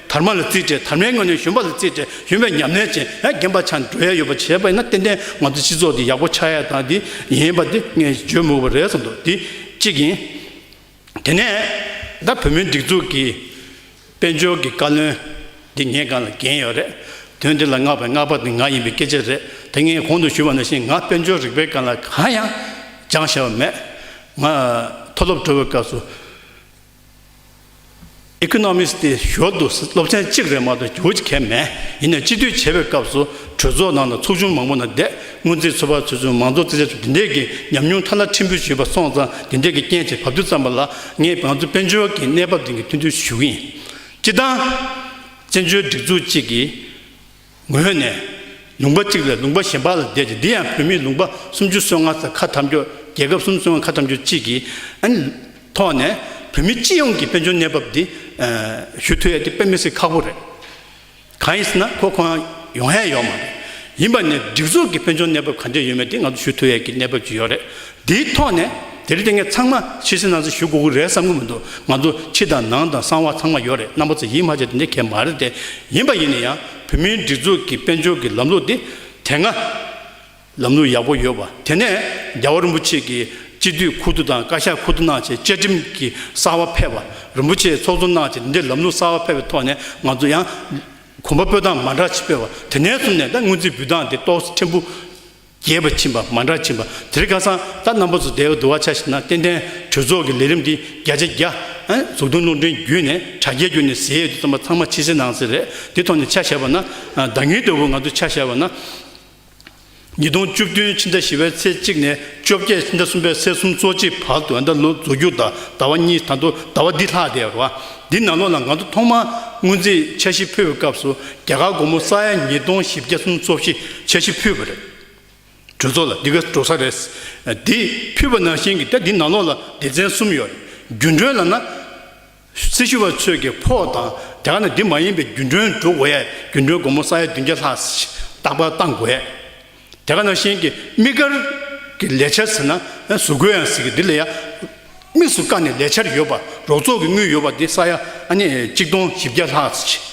དར་མ་ལ་བརྩིས་ཏེ་དར་མའི་སྔུན་ནས་གཞོན་པ་ལ་བརྩིས་ཏེ་གཞོན་པའི་ཉམས་ལེན་ཅན་ཡང་རྒན་པ་ཆགས་ནས་འགྲོ་ཡ་ཡོད་པ་བྱས་པ་ཡིན་ན་ཏན་ཏན་ང་ཚོའི་སྤྱི་ཚོགས་འདི་ཡག་པོ་ཆགས་ཡ་ད་འདི་ཡིན་པ་འདི་ངས་བརྗོད་མུག་པ་རེད་བསམ་འདུག་འདི་གཅིག་ཡིན། དེ་ནས་ད་བོད་མིའི་སྒྲིག་འཛུགས་ཀྱི་དཔལ་འབྱོར་གྱི་བཀའ་བློན་འདི་ངས་གང་ལ་འགན་ཡོད་རེད། དོན་འདི་ལ་མངགས་པའི་མངགས་པ་འདི་ང་ཡིན་པའི་སྐད་ཆ་རེད་དེ་ངས་གོང་དུ་ཞུས་པ་ནང་བཞིན་ང་དཔལ་འབྱོར་རིག་པའི་སྐར་ལ་གང་ཡང་སྦྱངས་བྱས་པ་མེད། ང་མཐོ་སློབ་འགྲོ་བའི་སྐབས་སུ Economist དེ་ཞོར་དུ་སློབ་ཚན་གཅིག་རེ་མ་གཏོགས་འགྱུར་གལ་མེད། ཡིན་ནའི་སྤྱི་འཐུས་བྱས་པའི་སྐབས་སུ་གྲོས་ཚོགས་ནང་དུ་ཚོགས་ཆུང་མང་པོ་ནང་བསྡད་སྔོན་རྩིས་ཚོགས་པ་ཚོས་ཚུན་མང་ཚོགས་རྩིས་བྱས་ཚུལ་དེ་འདྲས་ཀྱི་ཉམས་མྱོང་མཐའ་ལ་ཁྲིམས་ཕུད་ཞུས་པ་སོང་ཙང་དེ་འདྲས་ཀྱི་རྐྱེན་བྱས་བབ་དུས་ཙམ་པ་ལ་ངས་བང་མཛོད་དཔལ་འབྱོར་གྱི་གནས་བབ་སྟེང་གི་སྟོན་བསྡུར་ཞུ་གི་ཡིན། སྤྱི་བཏང། བཙན་བྱོལ་སྒྲིག་འཛུགས་གཅིག་གིས། ངོས་ནས། ལུང་པ་གཅིག་ལས་ལུང་པ་གཞན་པ་ལ་བསྡད་ཅིང་འདི་ཡང་བོད་མིའི་ལུང་པ་སུམ་ཅུ་སོ་ལྔ་ཚ་ཁ་ཐམས་ཅད་རྒྱལ་ཁབ་གསུམ་སོ་ལྔ་ཁ་ཐམས་ཅད་གཅིག་གི་ཐོག་ནས་བོད་མི་སྤྱི་ཡོངས་ཀྱི་དཔལ་འབྱོར་གནས་བབ་འདི་ཞུ་ཐུ་ཡ་དེ་དཔེ་མི་སྲིད་ཁག་པོ་རེད། གང་ཡིན་ཟེར་ན་ཁོ་ཁོ་ཡང་ཡོང་ཧ་ཡོད་མ་རེད། ཡིན་པ་ནས་སྒྲིག་འཛུགས་ཀྱི་དཔལ་འབྱོར་གནས་བབ་ག་འདྲས་ཡོད་མེད་དེ་ང་ཚོ་ཞུ་ཐུ་ཡ་ཀྱི་གནས་བབ་ཅིག་ཡོད་རེད། དེའི་ཐོག་ནས་དེ་རིང་ངས་ཚང་མ་ཕྱི་སེམས་ནང་སེམས་ཞུ་དགོས་ཀྱི་རེད་བསམ་གྱི་མི་འདུག་ང་ཚོ་ཕྱི་དང་ནང་དང་གསང་བ་ཚང་མ་ཡོད་རེད་རྣམ་པ་ཚོ་ཡིད་མ་ཆེས་དེ་འདྲའི་གལ་མ་རེད་དེ་ཡིན་པ་ཡིན་ན་ཡང་བོད་མིའི་སྒྲིག་འཛུགས་ཀྱི་དཔལ་འབྱོར་གྱི་ལམ་ལུགས་དེ་དེ་སྔ་ལམ་ལུགས་ཡག་པོ་ཡོད་པ་དེ་ནས་རྒྱལ་བ་རིན་པོ་ཆེ་གྱིས་སྤྱི་འཐུས་ཁུ་བསྡུ་དང་བཀའ་ཤག་ཁུ་བསྡུ་གནང་ཆེད་བཅའ་ཁྲིམས་ཀྱི་གསར་བ་ཕེབས་པ་རིན་པོ་ཆེ་ཚོགས་གཙོ་གནང་ཆེད་དེ་འདྲའི་ལམ་ལུགས་གསར་བ་ཕེབས་པའི་ཐོག་ནས་ང་ཚོ་ཡང་གོམ་པ་སྤོས་སྟངས་མ་འདྲ་ཅིག་སྤོས་པ་དེ་ནས་བཟུང་ནས་ད་དངུལ་རྩིས་འབུལ་སྟངས་དེ་ཏོག་ཕྲན་བུ། རྒྱས་པར་ཕྱིན་པ་མ་འདྲ་ཕྱིན་པ་དེ་རིགས་ཁ་སང་ལྟར་རྣམ་པ་ཚོ་དལ་བུར་འདུ་བ་ཆགས་ཤིག་ན་ཏན་ཏན་གྲོས་ཚོགས་ཀྱི་ལས་རིམ་འདི་བརྒྱ་ཆ་བརྒྱ། ཟུར་བཏོན་རླུང་འཕྲིན་བརྒྱུད་ནས་དྲ་རྒྱའི་བརྒྱུད་ནས་ཟེར་ཡས་དུས་རྩོམ་པ་ཚང་མ་ཕྱི་གསལ་ནང་གསལ་རེད་འདི་ཐོག་ནས་ཆ་བཞག་པ་ན། ཟླ་ཉིའི་དོད་པོ་ང་ཚོས་ཆ་བཞག་པ་ན། ཉིས་སྟོང་བཅུ་བདུན་ཕྱི་ཟླ་བཞི་བའི་ཚེས་གཅིག་ནས་བཅོ་བརྒྱད་ཕྱི་ཟླ་གསུམ་པའི་ཚེས་གསུམ་གཙོ་ཆེའི་བར་དུ་ཟླ་ལོ་རྫོགས་རྒྱུ་དང་ཟླ་བ་གཉིས་དང་དུ་ཟླ་བ་འདི་ལྷག་བསྡད་པ། འདི་ནང་ལོགས་ལ་ང་ཚོ་ཐོག་མར་དངུལ་རྩའི་འཆར་གཞི་ཕུལ་བའི་སྐབས་སུ་རྒྱ་གར་སྒོར་མོ་ས་ཡ་ཉིས་སྟོང་བཞི་བརྒྱ་སུམ་ཅུ་སོ་བཞི་འཆར་གཞི་ཕུལ་བ་རེད། གྲོས་ཚོགས་ལ་འདི་ག་འགྲོ་ས་རེད། དེ་ཕུལ་བ་ནང་བཞིན་གྱི་ད་འདི་ནང་ལོགས་ལ་སྡེ་ཚན་གསུམ་ཡོད་རེད། རྒྱུན་གྲོན་ལ་ན། སྲི་ཞུ་བ་ཚོས་ཀྱི་ཕོགས་དང་རྒྱ་གར་ནས་འདི་མ་ཡིན་པའི་རྒྱུན་གྲོན་འགྲོ་འོས་རྒྱུན་གྲོན་སྒོར་མོ་ས་ཡ་བདུན་བརྒྱ་ལྷག་ལྟག་པར་བཏང་དགོས། དེ་ག་ནང་བཞིན་གྱི་དམིགས་བཀར་གྱི་ལས་འཆར་ཟེར་ན་གཟུགས་བཀོད་ཡང་ཟེར་གི་འདི་ལ་ཡང་དམིགས་སུ་བཀར་ནས་ལས་འཆར་ཡོད་པ་རོགས་ཚོགས་ཀྱི་དངུལ་ཡོད་པ་འདི་ས་ཡ་གཅིག་སྟོང་བཞི་བརྒྱ་ལྷག་ཙི་བྱས།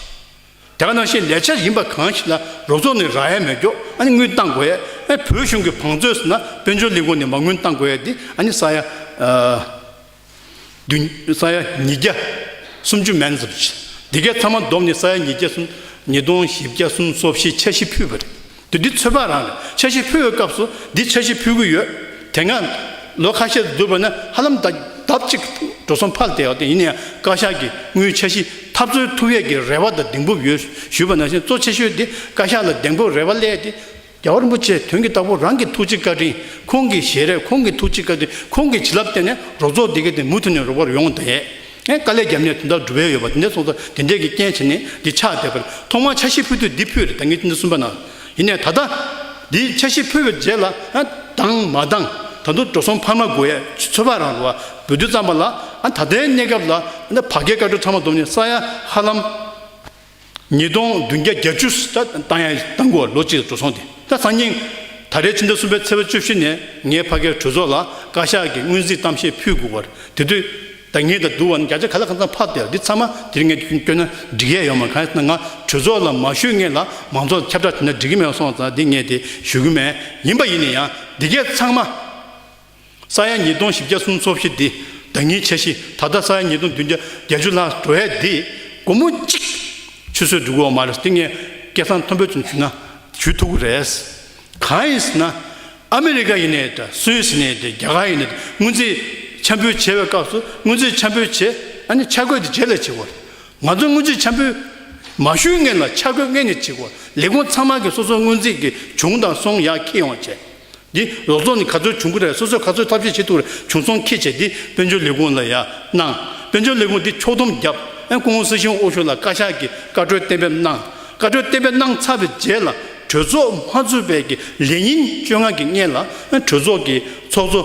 དེ་ག་ནང་བཞིན་ལས་འཆར་ཡིན་པ་གང་ཞིག་ལ་རོགས་ཚོགས་ནས་རག་ཡས་མས་འགྱོག་དངུལ་གཏང་དགོས་ཡས་བོད་གཞུང་གི་བང་མཛོད་ཟེར་ན་དཔལ་འབྱོར་ལས་ཁུངས་ནས་མ་དངུལ་གཏང་དགོས་ཡས་འདི་ས་ཡ་བདུན། ས་ཡ་ཉིས་བརྒྱ་སུམ་ཅུ་མན་ཟབ་བཞི། འདི་གའི་ཐ་མ་བསྡོམས་ནི་ས་ཡ་ཉིས་བརྒྱ་སུམ། ཉིས་སྟོང་བཞི་བརྒྱ་གསུམ་སོ་བཞི་འཆར་གཞི་ཕུད་པ་རེད། དུས་འདི་ཚོད་དཔག་རང་རེད། འཆར་གཞི་ཕུད་འོས་སྐབས་སུ་འདི་འཆར་གཞི་ཕུད་གི་ཡོད། དེ་སྔ་ལོ་ཁ་ཤས་བསྡུར་བ་ན་ཧ་ལམ་ལྡབ་གཅིག་འགྲོ་སོང་ཕར་བལྟས་ཡོད། ཡིན་ན་ཡང་བཀའ་ཤག་གིས་དངུལ་འཆར་གཞི་འཐབ་རྩོད་ཐུབ་ཡས་ཀྱི་རེ་བ་དང་གདེང་སྤོབས་ཡོད་ཞུས་པ་ནང་བཞིན་གཙོ་ཆེ་ཤོས་དེ་བཀའ་ཤག་ལ་གདེང་སྤོབས་རེ་བ་སླད་དེ། རྒྱལ་བ་རིན་པོ་ཆེ་དོན་གྱི་རྟགས་བུ་རང་གི་ཐུགས་རྗེ་བཀའ་དྲིན་ཁོང་གི་ཞལ་རས་ཁོང་གི་ཐུགས་རྗེ་བཀའ་དྲིན་ཁོང་གི་བྱིན་རླབས་བརྟེན་ནས་རོགས་ཚོགས་སྡེ་དགེ་དེ་མུ་མཐུད་ནས་རོགས་པར་ཡོང་དེ་ནས་དཀའ་ལས་རྒྱབ་ནས་དོན་དག་འགྲུབ་འོས་ཡོད་པ་དེ་འདྲས་སོང་ཙང་དེ་འདྲས་ཀྱི་རྐྱེན་བྱས་ནས་འདི་ཕྱག་བཏེགས་པར་ཐོག་མར་ཕྱག་བཞི་ཕུལ་དུས་འདི་ཕུལ་རེད་ད་ངེད་ཅིག་འདི་གསུམ་པ་ན་ཡིན་ནས་ད་ལྟ་འདི་ཕྱག་བཞི་ཕུལ་བའི་རྗེས་ལ་དང་མ་དང་ད་དུང་འགྲོ་སོང་འཕར་མ་དགོས་ཡ་ཚོད་དཔག་རང་རོགས་བ་འབུལ་དུས་བརྩམས་པ་ལ་ད་ལྟའི་གནས་སྐབས་ལ་བར་བརྒལ་བཀའ་གྲོས་ཚང་མ་བསྡོམས་ནས་ས་ཡ་ཧ་ལམ། ཉིས་སྟོང་བདུན་བརྒྱ་གྱ་བཅུ་སྟེང་གོ་ལོ་གཅིག་འགྲོ་སོང་དེ་སང་ཉིན་ད་རེས་ཕྱི་ཟླ་གསུམ་པའི་ཚེས་པ་བཅུ་བཞི་ནས་ངའི་ཕ་གའི་གྲོས་ཚོགས་ལ་བཀའ་ཤག་གིས་སྔོན་རྩིས་གཏམ་བཤད་ཕུལ་དགོས་པར་དེ་དུས་ད་ངས་ད་དུ་བ་ནི་བརྒྱ་ཆ་ག་ལ་གང་ཙམ་ཕབ་སྟེ་འདི་ཚང་མ་འདིར་ངས་བསྐྱོན་ན་འགྲིག་ཡས་ཡོད་མ་གང་ཡས་ན་ང་གྲོས་ཚོགས་ལ་མ་ཞུས་ངེས་ལ་མང་ཚོགས་ལ་ཁྱབ་བསྒྲགས་བྱས་ན་འགྲིག་གི་མེད་སོང་ཙང་འདི་ངས་དེ་ཞུ་གི་མེད་ཡིན་པ་ཡིན་ན་ཡང་འདི་གས་ཚང་མ། ས་ཡ་ཉིས་སྟོང་བཞི་བརྒྱ་གསུམ་འཚོ་བཞི་འདི་ཟླ་གཉིས་ཆ་བཞི་ད་ལྟ་ས་ཡ་ཉིས་སྟོང་བདུན་བརྒྱ་བརྒྱད་ཅུ་ལྷག་འགྲོ་ཡས་འདི་སྒོར་མོ་གཅིག་ཆུད་ཟོས་འགྲོ་གི་འོག་མ་རེད་འདི་ངས་སྐད་གསང་མཐོན་པོས་ཙམ་ཞུས་ན་ཞུས་ཐུབ་གི་རེད། གང་ཡིན་ཟེར་ན་ཨ་མི་རི་ཀ་ཡིན་ནའི་ད་སུད་ཟེར་ནའི་ད་རྒྱ་གར་ཡིན་ནའི་ད་དངུལ་རྩིས་འཆམ་འཕོས་བྱེད་པའི་སྐབས་སུ་དངུལ་རྩིས་འཆམ་འཕོས་བྱེད་ཨ་ནི་འཆར་འགོད་དེ་རྗེས་ལས་བྱེད་དགོས་རེད། ང་ཚོ་དངུལ་རྩིས་འཆམ་འཕོས་མ་ཞུས་ངེས་ལ་འཆར་འགོད་ངེས་ནས་བྱེད་དགོས་ལས་ཁུངས་ཚང་མ་གི་སོ་སོ་དངུལ་རྩིས་ཀྱི་བྱུང་དང་སོང་ཡག་ཁྱི་ཡོང་བྱེད། འདི་ལོ་ཚོགས་ནི་ག་ཚོད་བྱུང་གི་རེད་སོ་སོས་ག་ཚོད་ཐབས་ཤེས་བྱེད་ཐུབ་རེད་བྱུང་སོང་ཁྱེད་བྱས་ཏེ་དཔལ་འབྱོར་ལས་ཁུངས་ལ་ཡང་གནང། དཔལ་འབྱོར་ལས་ཁུངས་འདི་ཕྱོགས་སྡོམ་བརྒྱབ། ཨན་སྐུ་ངོ་སི་ཤིང་ཨོ་ཤུ་ལ་བཀའ་ཤག་གིས་བཀའ་འཁྲོལ་གཏན་འབེབས་གནང། བཀའ་འཁྲོལ་གཏན་འབེབས་གནང་ཚར་བའི་རྗེས་ལ་གྲོས་ཚོགས་མ་ཚུགས་པའི་གི་ལས་ཉིན་བཅོ་ལྔ་གི་སྔས་ལ་ཨན་གྲོས་ཚོགས་ཀྱི་ཚོགས་གཙོ་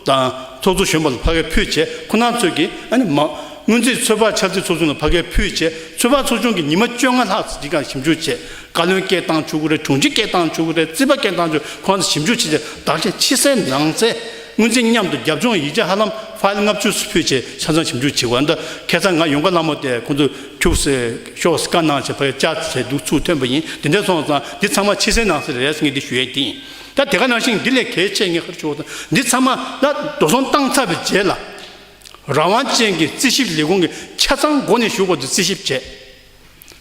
དང་ཚོགས་གཙོ་གཞོན་པ་ལ་ཕ་གས་ཕུད་བྱས་ཁོ་ནང་ཚོས་གི་ཨན་མ། སྔོན་རྩིས་ཚོད་དཔག་འཆར་རྩིས་ཚོགས་ཆུང་ལ་ཕ་གས་ཕུད་བྱས་ཚོད་དཔག་ཚོགས་ཆུང་གི་ཉི་མ་བཅོ་ལྔ་ལྷག་ཅིག་ཀྱང་ཞིབ་འཇུག་བྱས། བཀའ་བློན་སྐལ་བཏང་བཅུ་དགུ་རེད་དྲུང་ཆེ་སྐལ་བཏང་བཅུ་དགུ་རེད་རྩིས་པ་སྐལ་བཏང་བཅུ་ཁོང་ཚོ་ཞིབ་འཇུག་བྱེད་ཆེད་བདག་གཞན་ཕྱི་གསལ་ནང་གསལ་དངོས་འཛིན་མཉམ་དུ་རྒྱབ་ལྗོངས་ཡིག་ཆ་ཧ་ལམ་ཕཱིལ་ལྔ་བཅུ་སུ་ཕུལ་བྱས་ཆ་ཚང་ཞིབ་འཇུག་བྱེད་དགོས་ད་ཁྱེད་ཚང་ང་ཡོང་ག་སླ་མོ་སྟེ་ཁོང་ཚོ་ཁྱུག་སེ་ཤོག་སེ་བཀའ་གནང་བྱས་ཕ་ཡ་བཅའ་བྱས་འདུག་ཚུལ་ཐོན་པ་ཡིན་དེ་འདྲས་སོང་ཙང་འདི་ཚང་མ་ཕྱི་གསལ་ནང་གསལ་རེད་ངས་འདི་ཞུ་ཡས་ཀྱིན་ད་དེ་ག་ནང་བཞིན་འདི་ལས་གལ་ཆེ་ངས་ཁར་ཞུ་བ་ཙང་འདི་ཚང་མ་ལ་འགྲོ་སོང་བཏང་ཚར་བའི་རྗེས་ལ་རང་དབང་ཅན་གྱི་རྩིས་ཞིབ་ལས་ཁུངས་ཀྱི་ཆ་ཚང་སྒོ་ནས་ཞུ་དགོས་འདུག་རྩིས་ཞིབ་བྱས།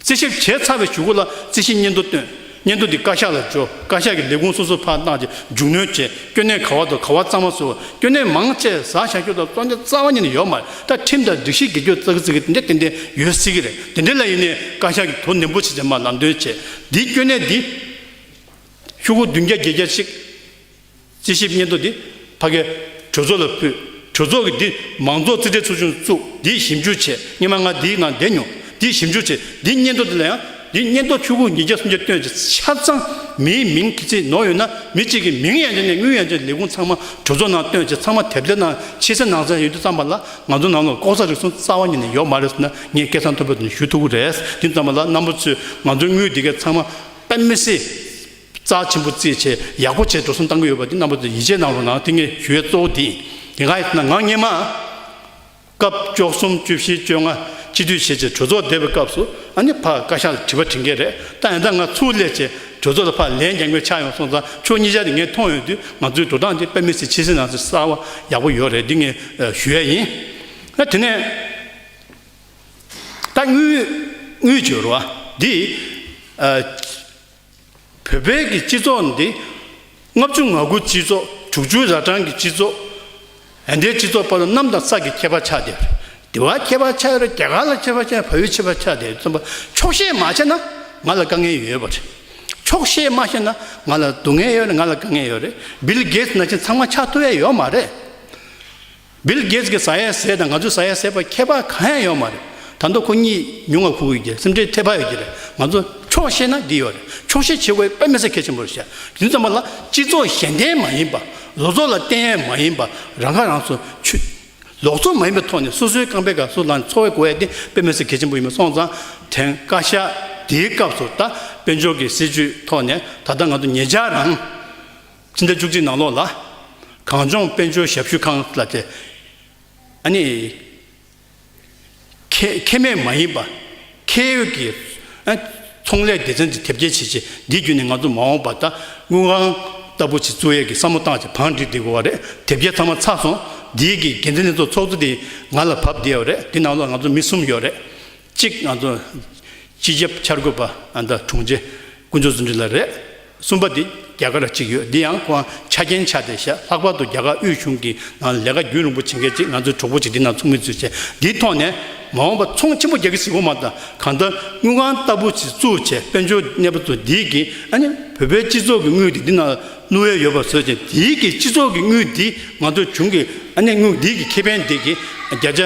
རྩིས་ཞིབ་བྱས་ཚར་བའི་ཞུ་སྒོ་ལ་རྩིས་ཞིབ་སྙན་ཐོ་བཏོན། སྙན་ཐོ་དེ་བཀའ་ཤག་ལ་འབྱོར་བཀའ་ཤག་གིས་ལས་ཁུངས་སོ་སོར་ཕར་བཏང་རྗེས་མཇུག་གནོན་བྱས་སྐྱོན་གནས་ག་བ་དང་ག་བ་གཙང་མ་བཟོས་བ་སྐྱོན་གནས་མང་བཅས་བཟའ་བྱ་སྐྱོ་དང་བཙོང་བྱ་རྩ་བ་ཉིད་ནས་ཡོད་མ་རེད་ད་ཁྲིམས་དང་སྒྲིག་གཞི་སྒེར་སྤྱོད་རྩ་གི་རྩིས་ཀྱི་འདི་འདྲ་ཏན་ཏན་ཡོད་སྲིད་ཀྱི་རེད་དེ་འདྲ་ལ་ཡིན་ནས་བཀའ་ཤག་གིས་དོ་ནན་པོ་བྱས་རྗེས་མར་ལམ་སྟོན་བྱས་འདིའི་སྐྱོན་གནས་འདི། ཞུ་སྒོ་བདུན་བརྒྱ་བརྒྱད་བརྒྱ་ཞིག། རྩིས་ཞིབ་སྙན་ཐོ་འདི་ཕ་གའི་གྲོས་ཚོགས་ལ་ཕུལ། གྲོས་ཚོགས་ཀྱིས་འདི་མང་ཚོགས་རྩིས་ཁྲའི་ཚོ་ཆུང་བཙུགས་འདིའི་ཞིབ་འཇུག་བྱས་སྙན་མ་ང་འདིའི་ནང་བསྡད་མྱོང་འདིའི་ཞིབ་འཇུག་བྱས་འདིའི་སྙན་ཐོ་འདི་ལ་ཡང་འདིའི་སྙན་ཐོ་ཆུ་ཁུག་ཉིས་བརྒྱ་སུམ་བརྒྱ་བཏོན་རྗེས་ཆ་ཚང་མིའི་མིང་གི་རྩིས་ནོར་ཡོད་ན་མི་གཅིག་གི་མིང་ཡང་བྱས་ནས་དངུལ་ཡང་བྱས་ལས་ཁུངས་ཚང་མ་གྲོས་ཚོགས་ནང་བཏོན་རྗེས་ཚང་མ་དེབ་དེའི་ནང་ཕྱི་གསལ་ནང་གསལ་ཡོད་རྒྱུ་ཙམ་པ་ལ་ང་ཚོ་ནང་ལ་ལྐོག་ཟ་རིག་གསུམ་རྩ་བ་ཉིད་ནས་ཡོད་མ་རེད་ཟེར་ན་ངས་སྐད་གསང་མཐོན་པོ་དེ་ཞུ་ཐུབ་ཀྱི་རེད་དེ་ཙམ་པ་ལ་རྣམ་པ་ཚོས་ང་ཚོའི་དངུལ་འདི་གས་ཚང་མ་དཔལ་མི་སེར། རྩ་ཆེན་པོ་རྩེད་ཆས་ཡག་པོ་བྱས་འགྲོ་གསུམ་གཏང་གི་ཡོད་པ་དེ་རྣམ་པ་ཚོས་ཡིད་ཆེས་གནང་རོགས་གནང་ཐེངས་ངེས་ཞུ་ཡས་གཙོ་བོ་དེ་ཡིན་གང་ཡིན་ཟེར་ན་ང་སྙེ་མ་སྐབས་བཅོ་གསུམ་བཅུ་བཞི་བཅོ་ལྔ་སྤྱི་འཐུས་བྱས་རྗེས་གྲོས་ཚོགས་བསྡད་པའི་སྐབས་སུ་ཨ་ནེ་ཕག་བཀའ་ཤག་ལ་དྲི་བ་དྲི་མཁན་རེད་ད་ཡང་ད་ང་ཚུར་སླེབས་རྗེས་གྲོས་ཚོགས་ལ་ཕར་ལན་རྒྱག་མཁན་ཆགས་ཡོང་སོང་ཙང་ཆོས་གཉིས་ཆ་དེ་ངས་མཐོང་ཡོང་དུས་ང་ཚོའི་འགྲོ་སྟངས་དེ་དཔེ་མི་སྲིད་ཕྱི་སྲིད་ནང་སྲིད་གསར་བ་ཡག་པོ་ཡོད་རེད་དེ་ངེས་ཞུ་ཡས་ཡིན། ཨ་དེ་ནས་ད་དངུལ་དངུལ་བྱོལ་བ་དེ་ཨ། བོད་པའི་གི་སྤྱི་ཚོགས་འདི། ལྔ་བཅུ་ང་དགུ་སྤྱི་ཚོགས་དྲུག་ཅུའི་ར་གྲངས་ཀྱི་སྤྱི་ཚོགས། འདའི་སྤྱི་ཚོགས་པ་ལ་གནམ་དང་ས་ཀྱི་ཁྱད་པར་ཆགས་ཏེ། དེ་བ་ཁྱད་པར་ཆགས་རེད་རྒྱ་གར་ལ་ཁྱད་པར་ཆགས་བོད་ཡུལ་ཁྱད་པར་ཆགས་ཏེ་རྩོམ་པ་འཁྱོག་བཤད་མ་བྱས་ན་ང་ལ་དཀའ་ངལ་ཡོད་པ་རེད། འཁྱོག་བཤད་མ་བཤད་ན་ང་ལ་སྡུག་ངལ་ཡོད་རེད་ང་ལ་དཀའ་ངལ་ཡོད་རེད། Bill Gates ན་བཞིན་ཚང་མ་ཆགས་ཐུབ་ཡ་ཡོད་མ་རེད། Bill Gates གི་ཟ་ཡ་ཟས་དང་ང་ཚོའི་ཟ་ཡ་ཟས་བར་ཁྱད་པར་གང་ཡང་ཡོད་མ་རེད། དང་ཐོག་ཁོ་གཉིས་ཉུང་ངར་ཁུག་ཡོད་ཀྱི་རེད་སེམས་ཁྲལ་ཐེབས་ཧ་ཡོད་ཀྱི་རེད། ང་ཚོ་ཆོག་ཤེས་ན་འདི་ཡོད་རེད་ཆོག་ཤེས་བྱེད་དགོས་པ་མི་ས་ཁེ་ཆེན་པོ་རེད་བཤད། དུས་མཚམས་པ་ལ་སྤྱི་ཚོགས་གཞན་བརྟེན་མ་ཡིན་པ། ལོ་ཚོགས་ལ་བརྟེན་ཡས་མ་ཡིན་པ་རང་ཁ་རང་གསོ་ཆུ། ལོག་འཚོ་མ་ཡིན་པའི་ཐོག་ནས་སོ་སོའི་རྐང་པའི་ག་སོ་ལངས་ནས་འཚོ་བའི་གོ་ཡས་བརྟེན་པའི་མི་ས་ཁེ་ཆེན་པོ་ཡིན་པ་སོང་ཙང་དེང་བཀའ་ཤག་དེའི་སྐབས་སུ་ད་དཔལ་འབྱོར་གྱི་སྲིད་བྱུས་ཐོག་ནས་ད་ལྟ་ང་ཚོ་ངེད་ཅག་རང། ཕྱི་ཟླ་བཅུ་གཅིག་ནང་ལོགས་ལ། གངས་ལྗོངས་དཔལ་འབྱོར་ཞབས་ཞུ་ཁང་ལ་དེ། ཨ་ནི། ཁེ། ཁེ་མེད་མ་ཡིན་པ། ཁེ་ཡོད་ཀྱི། ཨ། ཚོང་ལས་སྡེ་ཚན་དེ་དེབ་སྐྱེལ་བྱེད་ཆེད་འདི་བརྒྱུད་ནས་ང་ཚོ་མ་འོངས་པར་ད་དངུལ་ཁང་ལྟ་བུ་ཞིག་གཙོ་ཡས་ཀྱི་བསམ་བློ་བཏང་ཆེད་བང་སྒྲིག་འདི་དགོས་བ་རེད་དེབ་སྐྱེལ་ཚང་མ་ཚར་སོང་འདིའི་གི་འགན་འཛིན་ལྷན་ཚོགས་ཚོགས་གཙོ་དེ་ང་ལ་བབས་བསྡད་ཡོད་རེད་དེ་ནང་ལོགས་ང་ཚོ་མི་གསུམ་ཡོད་རེད་གཅིག་ང་ཚོ། སྤྱི་ཁྱབ་འཆར་འགོད་པ་ཨ་མདའ་དྲུང་ཆེ་ཀུན་སྤྱོད་ཟུང་འབྲེལ་ལ་རེད། གསུམ་པ་དེ་རྒྱ་གར་ལ་གཅིག་ཡོད་འདི་ཡང་ཁོང་ཆ་རྐྱེན་ཆགས་ཏེ་བཤད་ལྷག་པར་དུ་རྒྱ་གར་དབུས་གཞུང་གི་ནང་ལས་ཀ་རྒྱུན་རིང་པོ་བྱེད་མཁན་གཅིག་ང་ཚོའི་གྲོགས་པོ་ཅིག་འདི་ནང་ཚོགས་མི་ཚོས་བྱས་འདིའི་ཐོག་ནས་མ་འོངས་པ་ཚོང་ཆེན་པོ་རྒྱ་གི་གཟིགས་སྐོར་མ་དང་གང་ལྟར་དངུལ་ཁང་ལྟ་བུ་ཞིག་བཙུགས་བྱས་དཔལ་འབྱོར་གནས་པ་ཚོ་འདིའི་གི་ཨ་ནི་བོད་པའི་སྤྱི་ཚོགས་ཀྱི་དངུལ་དེ་འདི་ནང་བླུ་འོས་ཡོད་པ་བཟོས་བྱས་འདིའི་གི་སྤྱི་ཚོགས་ཀྱི་དངུལ་འདི་ང་ཚོ་གཞུང་གི་ཨ་ནི་དངུལ་འདིའི་གི་ཁེ་ཕན་འདི་གི་བརྒྱ་ཆ་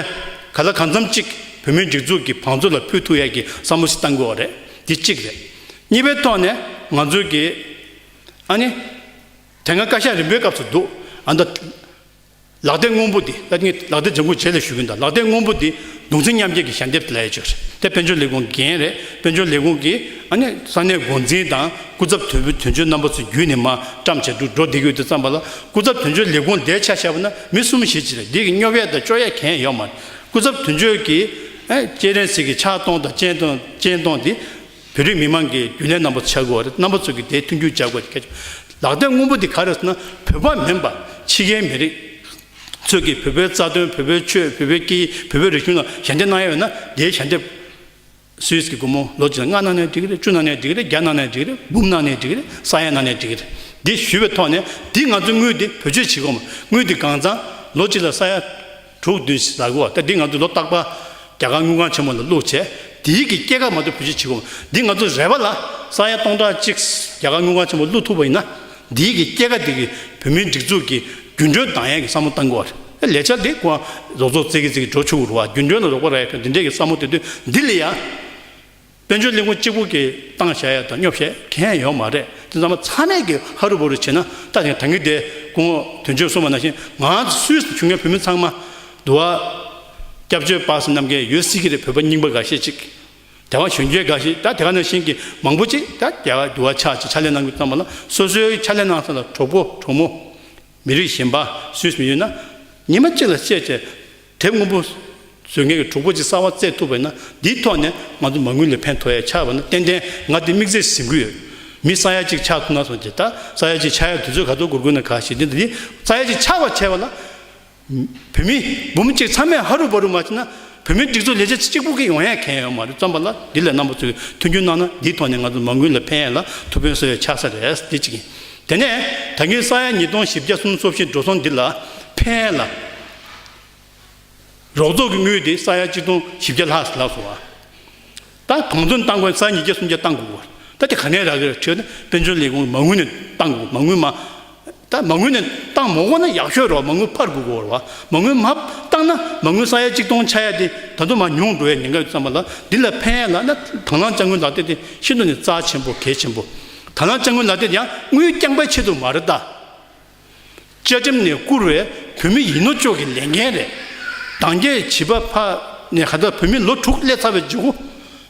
ག་ལ་གང་འཚམ་ཅིག་བོད་མིའི་སྒྲིག་འཛུགས་ཀྱི་བང་མཛོད་ལ་ཕུལ་ཐུབ་ཡས་གི་བསམ་བློ་ཞིག་གཏང་དགོས་བ་རེད་འདི་གཅིག་རེད། གཉིས་པའི་ཐོག་ནས་ང་ཚོའི་གི། ཨ་ནི། དེ་སྔ་བཀའ་ཤག་རིམ་པའི་སྐབས་སུ་འདུག་ཨ་མདའ། ལག་རྡེབ་སྔོན་པོ་འདི་ལ་ངས་ལག་རྡེབ་ལྗང་ཁུ་བྱས་ལེ་ཞུ་གིན་ད་ལག་རྡེབ་སྔོན་པོ་འདི་གདུང་ཚིག་མཉམ་བསྐྱེད་ཀྱི་ཞལ་འདེབས་དེ་ལ་ཡས་ཆོད་རེད་དེ་དཔལ་འབྱོར་ལས་ཁུངས་འགན་རེད་དཔལ་འབྱོར་ལས་ཁུངས་ཀྱིས་ཨ་ནི་ས་གནས་འགོ་འཛིན་དང་སྐུ་ཚབ་དོན་བུ་དོན་གཅོད་རྣམ་པ་ཚོ་བརྒྱུད་ནས་མ་བཀྲམ་བྱས་འདུག་འགྲོ་བདེ་གི་དུས་བརྩམས་པ་ལ་སྐུ་ཚབ་དོན་གཅོད་ལས་ཁུངས་འདའི་ཆ་བྱས་པ་ན་མི་གསུམ་བཞི་བྱས་རེད་འདི་གི་སྙོབ་ཡས་དང་གཅོད་ཡས་གན་ཡོད་མ་རེད་སྐུ་ཚབ་དོན་གཅོད་ཀྱིས་ཨ་ནི་སྐྱེས་རེན་ཟིག་གི་ཕྱག་སྟོང་དང་སྤྱན་སྟོང་སྤྱན་སྟོང་འདི་བོད་རིགས་མི་མང་གི་རྒྱུན་ལས་རྣམ་པ་ཚོ་བྱ་དགོས་བ་རེད་རྣམ་པ་ཚོ་གི་དེ་མཐུན་འགྱུར་བྱ་དགོས་བ་རེད་ལག་བསྟན་དངོས་པོ་དེ་ག་རེད་ཟེར་ན་བོད་པ་མིན་པ་ཕྱི་རྒྱལ་མི་རིགས་ཚོས་ཀྱི་བོད་པའི་རྩ་དོན་བོད་པའི་ཆོས་བོད་པའི་སྐད་ཡིག་བོད་པའི་རིག་གཞུང་ལ་ཞལ་འདེབས་གནང་ཡ་བས་ན་དེའི་ཞལ་འདེབས་སུའུས་ཀྱི་སྒོར་མོ་ལོ་གཅིག་ལ་ལྔ་གནང་ནས་འགྲིག་གི་རེད་བཅུ་གནང་ནས་འགྲིག་གི་རེད་བརྒྱ་གནང་ནས་འགྲིག་གི་རེད་འབུམ་གནང་ནས་འགྲིག་གི་རེད་ས་ཡ་གནང་ནས་འགྲིག་གི་རེད་འདི་ཞུས་བའི་ཐོག་ནས་འདི་ང་ཚོའི་དངུལ་འདི་བོད་ཆོས་བྱེད་སྒོ་མ་དངུལ་འདི་གང་བརྩམས་ལོ་གཅིག་ལ་ས་ཡ་དྲུག་བདུན་བཞི་བཟའ་གོ་ད་འདི་ང་ཚོས་ལོ་རྟག་པ་རྒྱ་གར་དངུལ་ཁང་ཆེན་མོ་ལ་བླུགས་བྱས་དེའི་གི་སྐྱེད་ཀ་མ་གཏོགས་བུ་ཅི་བྱེད་གོ་འདི་ང་ཚོ་རེ་བ་ལ་ས་ཡ་སྟོང་ཕྲག་གཅིག་རྒྱ་གར་དངུལ་ཁང་ཆེན་མོ་བླུགས་ཐུབ་པ་ཡིན་ན་འདིའི་གི་སྐྱེད་ཀ་དེ་གི་བོད་མིའི་སྒྲིག་འཛུགས་ཀྱི་རྒྱུན་གྲོན་བདག་ཡན་གི་བསམ་བློ་གཏང་གོ་ཨ་ལས་འཆར་འདི་ཀོ་རོགས་ཚོགས་རྩེ་གི་རྩེ་གི་འགྲོ་ཆུག་རུ་བ་རྒྱུན་གྲོན་ལ་རོགས་པ་ར་ཡ་ཕན་འདི་འདྲས་གི་བསམ་བློ་དེ་དུས་འདི་ལས་ཡ། དཔལ་འབྱོར་གླིང་བུ་གཅིག་པུ་གྱི་སྟངས་བྱ་ཡ་དང་སྙོབ་བྱེད་མཁན་ཡོད་མ་རེད་དེ་ཚང་མ་ཚང་མས་ཀྱི་ཧ་རུ་བུ་རུ་བྱེད་ན་ལྟ་ཞིང་དྲན་གི་དེ་སྐུ་ངོ་དོན་ཆོས་གསུངས་པ་ནང་བཞིན་ང་ཚོ་སུད་སུ་བྱུང་མཁན་བོད་མི་ཚང་མ་འདུ་བ་སྐྱབས་བཅོལ་པ་སུ་ནམ་གྱི་ཡོད་སྲིད་ཀྱི་རེད་བོད་པ་རྙིང་པ་འགའ་ཤས་ཅིག་དེ་བ་གཞོན་སྐྱེས་འགའ་ཞིག་ད་དེ་ག་ནང་བཞིན་གྱི་མང་པོ་ཅིག་ད་དེ་ག་འདུ་བ་ཆགས་ཅིག་ཕྱག་ལས་གནང་གི་ཙམ་པ་ལ་སོ་སོའི་ཕྱག་ལས་གནང་ས་ལ་གྲོགས་པོ་གྲོགས་མོ་མི་རིགས་གཞན་པ་སུད་སུ་ཡོད་ན་ཉི་མ་གཅིག་ལ་བཤད་བྱས་དེ་སྔོན་པོ་བཟོས་མཁན་གྱི་གྲོགས་པོ་ཅིག་གསར་བ་བཙལ་ཐུབ་པ་ཡིན་ན་འདིའི་ཐོག་ནས་ང་ཚོ་མ་དངུལ་ལས་ཕན་ཐོགས་ཡ་ཆགས་པ་ན་ཏན་ཏན་ང་འདི་དམིགས་བསལ་ཟིན་གྱི་ཡོད། མི་ས་ཡ་གཅིག་ཆགས་ཐུབ་ན་སོང་ཇི་ལྟར་ས་ཡ་གཅིག་ཆགས་ཡ་དུས་ཚོད་ག་ཚོད་འགོར་དགོས་ན་ག་ཞིག་འདི་འདི་ས་ཡ་གཅིག་ཆགས་པར་བྱས་པ་ལ། བོད་མི་འབུམ་གཅིག་ཚང་མས་ཧ་རུ་ཧྥ་རུ་མ་བྱས་ན་བོད་མིའི་སྒྲིག་འཛུགས་ལས་བྱེད་གཅིག་པུ་གིས་ཡོང་ཡ་གན་ཡོད་མ་རེད་བརྩམས་པ་ལ་འདི་ལས་རྣམ་པ་ཚོས་མཐུན་འགྱུར་གནང་ན་འདིའི་ཐོག་ནས་ང་ཚོ་མ་དངུལ་ལས་ཕན་ཡ་ལ་ཐུགས་ཕན་གསོ་ཡ་ཆགས་ས་རེད་འདི་གཅིག་ཡིན། དེ་ནས་ད་གིན་ས་ཡ་ཉིས་སྟོང་བཞི་བརྒྱ་གསུམ་སོ་བཞི་འགྲོ་སོང་འདི་ལ་ཕན་ཡ་ལ། རོགས་ཚོགས་ཀྱི་དངུལ་དེ་ས་ཡ་གཅིག་སྟོང་བཞི་བརྒྱ་ལྷག་ལགས་སོ། ད་གང་མཚོན་བཏང་དགོས་ན་ས་ཉིས་བརྒྱ་སུམ་བརྒྱ་བཏང་དགོས་པ། ད་དེ་ག་ནས་རག་གི་རེད་ཁྲེལ་ན་དཔལ་འབྱོར་ལས་ཁུངས་ཀྱི་མ་དངུལ་ནས་བཏང་དགོས་མ་དངུལ་མ། ད་མ་དངུལ་ནས་བཏང་མ་འོངས་ན་ཡག་ཤོས་རོགས་མ་དངུལ་ཕར་དགོས་དགོས་བར་མ་དངུལ་མ་བཏང་ན་མ་དངུལ་ས་ཡ་གཅིག་སྟོང་ཆ་ཡ་དེ་ད་དུང་མ་ཉུང་འགྲོ་བའི་ཉེན་ཁ་ཡོད་བསམ་པ་ལ་འདི་ལ་ཕན་ཡ་ལགས་ན་དང་བླངས་དཔྱ་དངུལ་ལག་དེབ་དེ་ཤིན་ཏུ་ནས་རྩ་ཆེན་པོ་གལ་ཆེན་པོ། དང་བླངས་དཔྱ་དངུལ་ལག་དེབ་ཡང་དངུལ་རྐྱང་པའི་ཆེད་དུ་མ་རེད་ད། བཅའ་ཁྲིམས་ནས་བསྐུར་བའི་བོད་མི་ཡིན་ནོ་ཅོག་གི་ལས་འགན་རེད། གདང་རྒྱའི་བྱིས་པ་ཕ་ནས་ཁ་ཐག་བོད་མི་ལོ་དྲུག་སླེབས་ཚར་བའི་རྗེ་བོ་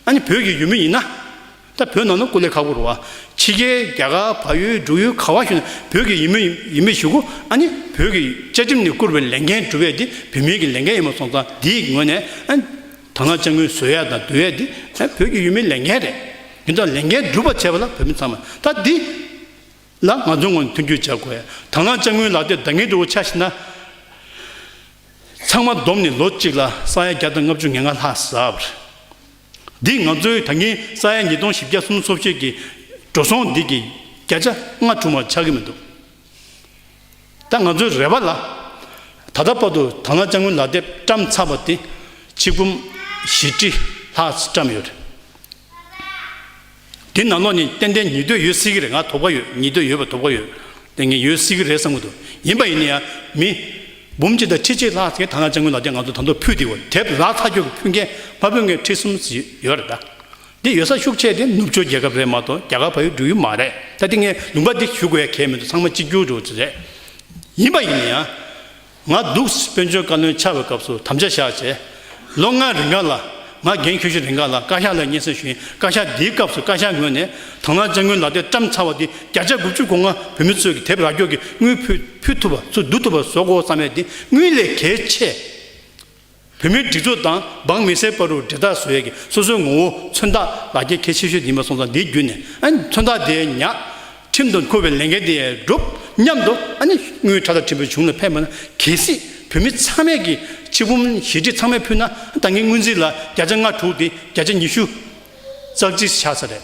ཨ་ནི་བོད་ཀྱི་ཡུལ་མི་ཡིན་ན། ད་བོད་ནང་ན་སྐུ་ལས་ཁག་པོར་བ་ཕྱི་རྒྱལ་རྒྱ་གར་བ་ཡོད་འབྲུག་ཡོད་ག་བ་ཞུ་ན་བོད་ཀྱི་ཡིན་མི་ཡིན་མི་ཞུ་གོ་ཨ་ནི་བོད་ཀྱི་བཅའ་ཁྲིམས་ནས་བསྐུར་བའི་ལས་འགན་སྒྲུབ་ཡས་དེ་བོད་མིའི་གི་ལས་འགན་ཡིན་མ་སོང་ཙང་དེའི་ངོས་ནས་ཨ་ནི་དར་ནག་ལྕགས་མོའི་བཟོས་ཡས་དང་སྡོད་ཡས་དེ་ཨ་ནི་བོད་ཀྱི་ཡུལ་མིའི་ལས་འགན་རེད། ཡིན་ཙང་ལས་འགན་སྒྲུབ་པ་བྱས་པ་ལ་བོད་མི་ཚང་མ་ད་དེ། ལ་ང་ཚོའི་ངོས་ནས་མཐུན་འགྱུར་བྱ་དགོས། དང་བླངས་དཔྱ་དངུལ་ལག་དེབ་འདང་ངེས་འགྲོ་བོ་ཆགས་ཤེས་ན། ཚང་མ་བསྡོམས་ནས་ལོ་གཅིག་ལ་ས་ཡ་བརྒྱ་དང་ལྔ་བཅུ་ང་ལྔ་ལྷག་ཟབ། འདིས་ང་ཚོའི་ད་གིན་ས་ཡ་ཉིས་སྟོང་བཞི་བརྒྱ་གསུམ་སོབ་ཤོད་ཀྱི་འགྲོ་སོང་འདི་གི་བརྒྱ་ཆ་ལྔ་དྲུག་མར་ཆགས་ཀྱི་མི་འདུག་ད་ང་ཚོའི་རེ་བ་ལ། ད་ལྟ་བར་དུ་དང་བླངས་དཔྱ་དངུལ་ལག་དེབ་བཀྲམ་ཚར་བ་དེ་ཕྱི་གུམ་བཞི་ཁྲི་ལྷག་བཀྲམ་ཡོད། དེ་ནང་ལོགས་ནས་ཏན་ཏན་ཉིས་ཟློས་ཡོད་སྲིད་ཀྱི་རེད་ང་དོགས་པ་ཡོད་ཉིས་ཟློས་ཡོད་པ་དོགས་པ་ཡོད་དེ་ངས་ཡོད་སྲིད་ཀྱི་རེད་བསམ་གྱི་འདུག་ཡིན་པ་ཡིན་ན་ཡང་མི། འབུམ་གཅིག་དང་ཁྲི་གཅིག་ལྷག་གིས་ཐ་ན་ལྕང་སྐུ་ལགས་ཀྱང་ང་ཚོ་དང་ཐོག་ཕུད་དེ་འོ་དེབ་ལག་ཐ་སྐྱོར་གྱི་ཕུད་མཁན་ཕ་བུ་ངེད་ཁྲི་གསུམ་ཡོད་རེད་ད། འདི་ཡོད་ས་ཤུགས་ཆེ་དེ་ནུབ་ཕྱོགས་རྒྱལ་ཁབ་རེད་མ་གཏོགས་རྒྱ་གར་ཕ་ཡུལ་འགྲུལ་ཡུལ་མ་རེད་ད་དེ་ངས་ལུང་པ་འདི་ཞུ་དགོས་ཡ་གལ་མི་འདུག་ཚང་མ་གཅིག་གྱུར་འགྲོ་བ་དེ་རེད། ཡིན་པ་ཡིན་ན་ཡང། ང་སྡུག་དཔོན་ཆུང་བཀའ་བློན་ཆགས་པའི་སྐབས་སུ་དམ་བཅའ་བཞག་རྗེས། ལོ་ལྔ་རིང་ག་ལ། ང་རྒན་ཁྱོད་ཤི་རིང་ག་ལ་བཀའ་ཤག་ལ་སྙན་སེང་ཞུ་ཡིན་བཀའ་ཤག་འདིའི་སྐབས་སུ་བཀའ་ཤག་ངོས་ནས་དང་བླངས་ལྕགས་དངུལ་ལག་དེབ་བཀྲམ་ཚར་བ་འདི་བརྒྱ་ཆ་དགུ་བཅུ་གོ་ལྔ་བོད་མི་ཚོས་ཀྱི་དེབ་རག་སྐྱོར་གྱི་དངུལ་ཕུལ་ཐུབ་པ་ཚུར་བསྡུ་ཐུབ་པ་བཟོ་དགོས་བསམ་པའི་འདི་དངུལ་ལས་གལ་ཆེ། བོད་མིའི་སྒྲིག་འཛུགས་དང་འབངས་མི་སེར་པ་རུ་འབྲེལ་ཐག་བཟོ་ཡས་ཀྱི་སོ་སོའི་ངོ་བོ་མཚོན་རྟགས་ལ་རྒྱལ་ཁའི་ཆེ་ཤོས་དེ་ཡིན་པ་སོང་ཙང་དེའི་བརྒྱུད་ནས་ཨ་ནི་མཚོན་རྟགས་དེ་ཉག་ཁྲིམས་དུ་འཁོད་པའི་ལས་འགན་དེ་སྒྲུབ་སྙམ་དུ་ཨ་ནི་དངུལ་ཁྲ་ཐག་ཁྲིམས་པའི་གཞུང་ལ་ཕེབས་མ་ན་གལ་སྲིད་བོད་མི་ཚང་མས་ཀྱི་ཕྱི་བུམ་ཞེ་ཁྲི་ཚང་མས་ཕུལ་ན་ད་ངའི་དངུལ་རྩིས་ལ་བརྒྱ་ཆ་ང་དྲུག་དེ་བརྒྱ་ཆ་ཉི་ཤུ་ཙག་ཙིག་ཆགས་ས་རེད།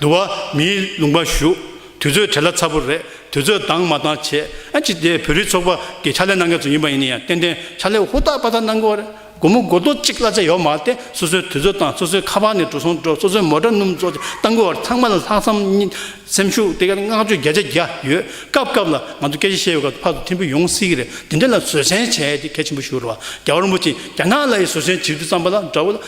འདུ་བ། མིའི་ལུང་པར་ཞུགས། དུས་ཚོད་བྲེལ་ལ་ཚ་པོ་རེད། དུས་ཚོད་དྭངས་མ་དྭངས་ཆེད། ཨ་ཅི་དེ་བོད་རིགས་ཚོགས་པ་གི་ཕྱག་ལས་གནང་མཁན་ཚོ་ཡིན་པ་ཡིན་ནི་ཡང་ཏན་ཏན་ཕྱག་ལས་ཧུར་ཐག་པ་ཐག་གནང་དགོས་བ་རེད། དགོང་མོ་དགོ་ཐོག་གཅིག་གླ་ཆ་ཡོག་མ་སྟེ་སོ་སོའི་དུས་ཚོད་དང་སོ་སོའི་ཁ་པར་ནས་འགྲོ་སོང་འགྲོ་སོ་སོའི་མོ་དྲ་སྣུམ་སོགས་ཀྱི་གཏང་དགོས་བ་རེད་ཚང་མ་ལ་ལྷག་བསམ་གཉིས་སེམས་ཤུགས་དེ་ག་བསྔགས་བརྗོད་བརྒྱ་ཆ་བརྒྱ་ཡོད། སྐབས་སྐབས་ལ་ང་ཚོ་སྐད་ཆ་བཤད་བའི་སྐབས་སུ་ཕར་དུ་ཐེམ་བུ་ཡོང་སྲིད་ཀྱི་རེད་དེ་འདྲ་ལ་བཟོད་བསྲན་བྱས་ཏེ་གལ་ཆེན་པོ་ཞུ་རོགས་རྒྱ་བ་རིན་པོ་ཆེ་རྒྱ་ནག་ལ་ཡི་བཟོད་བསྲན་བྱེད་རྒྱུ་བརྩམས་པ་ལ་འདྲ་བོ།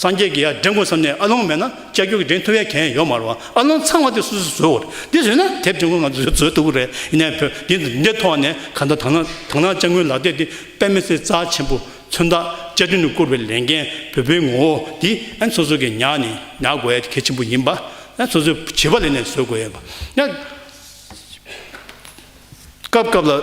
སངས་རྒྱས་ཀྱི་ཡ་འདྲེན་ཀུན་བསམས་ནས་ཨ་ལོང་མེད་ན་ལྕགས་ཀྱུ་གི་འདྲེན་ཐུབ་ཡ་གན་ཡོད་མ་རུང་ཨ་ལོང་ཚང་བ་དེ་སུ་སུས་བཟོས་འོ་རེད་དེ་བཟོས་ན་དེབ་འདྲེན་ཀུན་ང་ཚོས་བཟོས་བཟོས་ཐུབ་ཀི་རེད་ཡིན་ནའི་བོད་འདི་འདི་འདྲའི་ཐོག་ནས་ག་འདྲ་དང་ན་དང་ན་ལྕགས་མགུལ་ལག་སྟེགས་འདི་དཔེ་མི་སྲིད་རྩ་ཆེན་པོ་མཚོན་རྟགས་བཅའ་ཁྲིམས་ནས་བསྐུར་བའི་ལས་འགན་བོད་པའི་ངོ་བོ་འདི་ཨན་སོ་སོ་གི་ཉག་ནས་ཉག་དགོས་ཡ་གལ་ཆེན་པོ་ཡིན་པ་ཨན་སོ་སོའི་བྱིས་པ་ལས་ནས་བཟོས་དགོས་ཡ་པ་ཡ་སྐབས་སྐབས་ལ།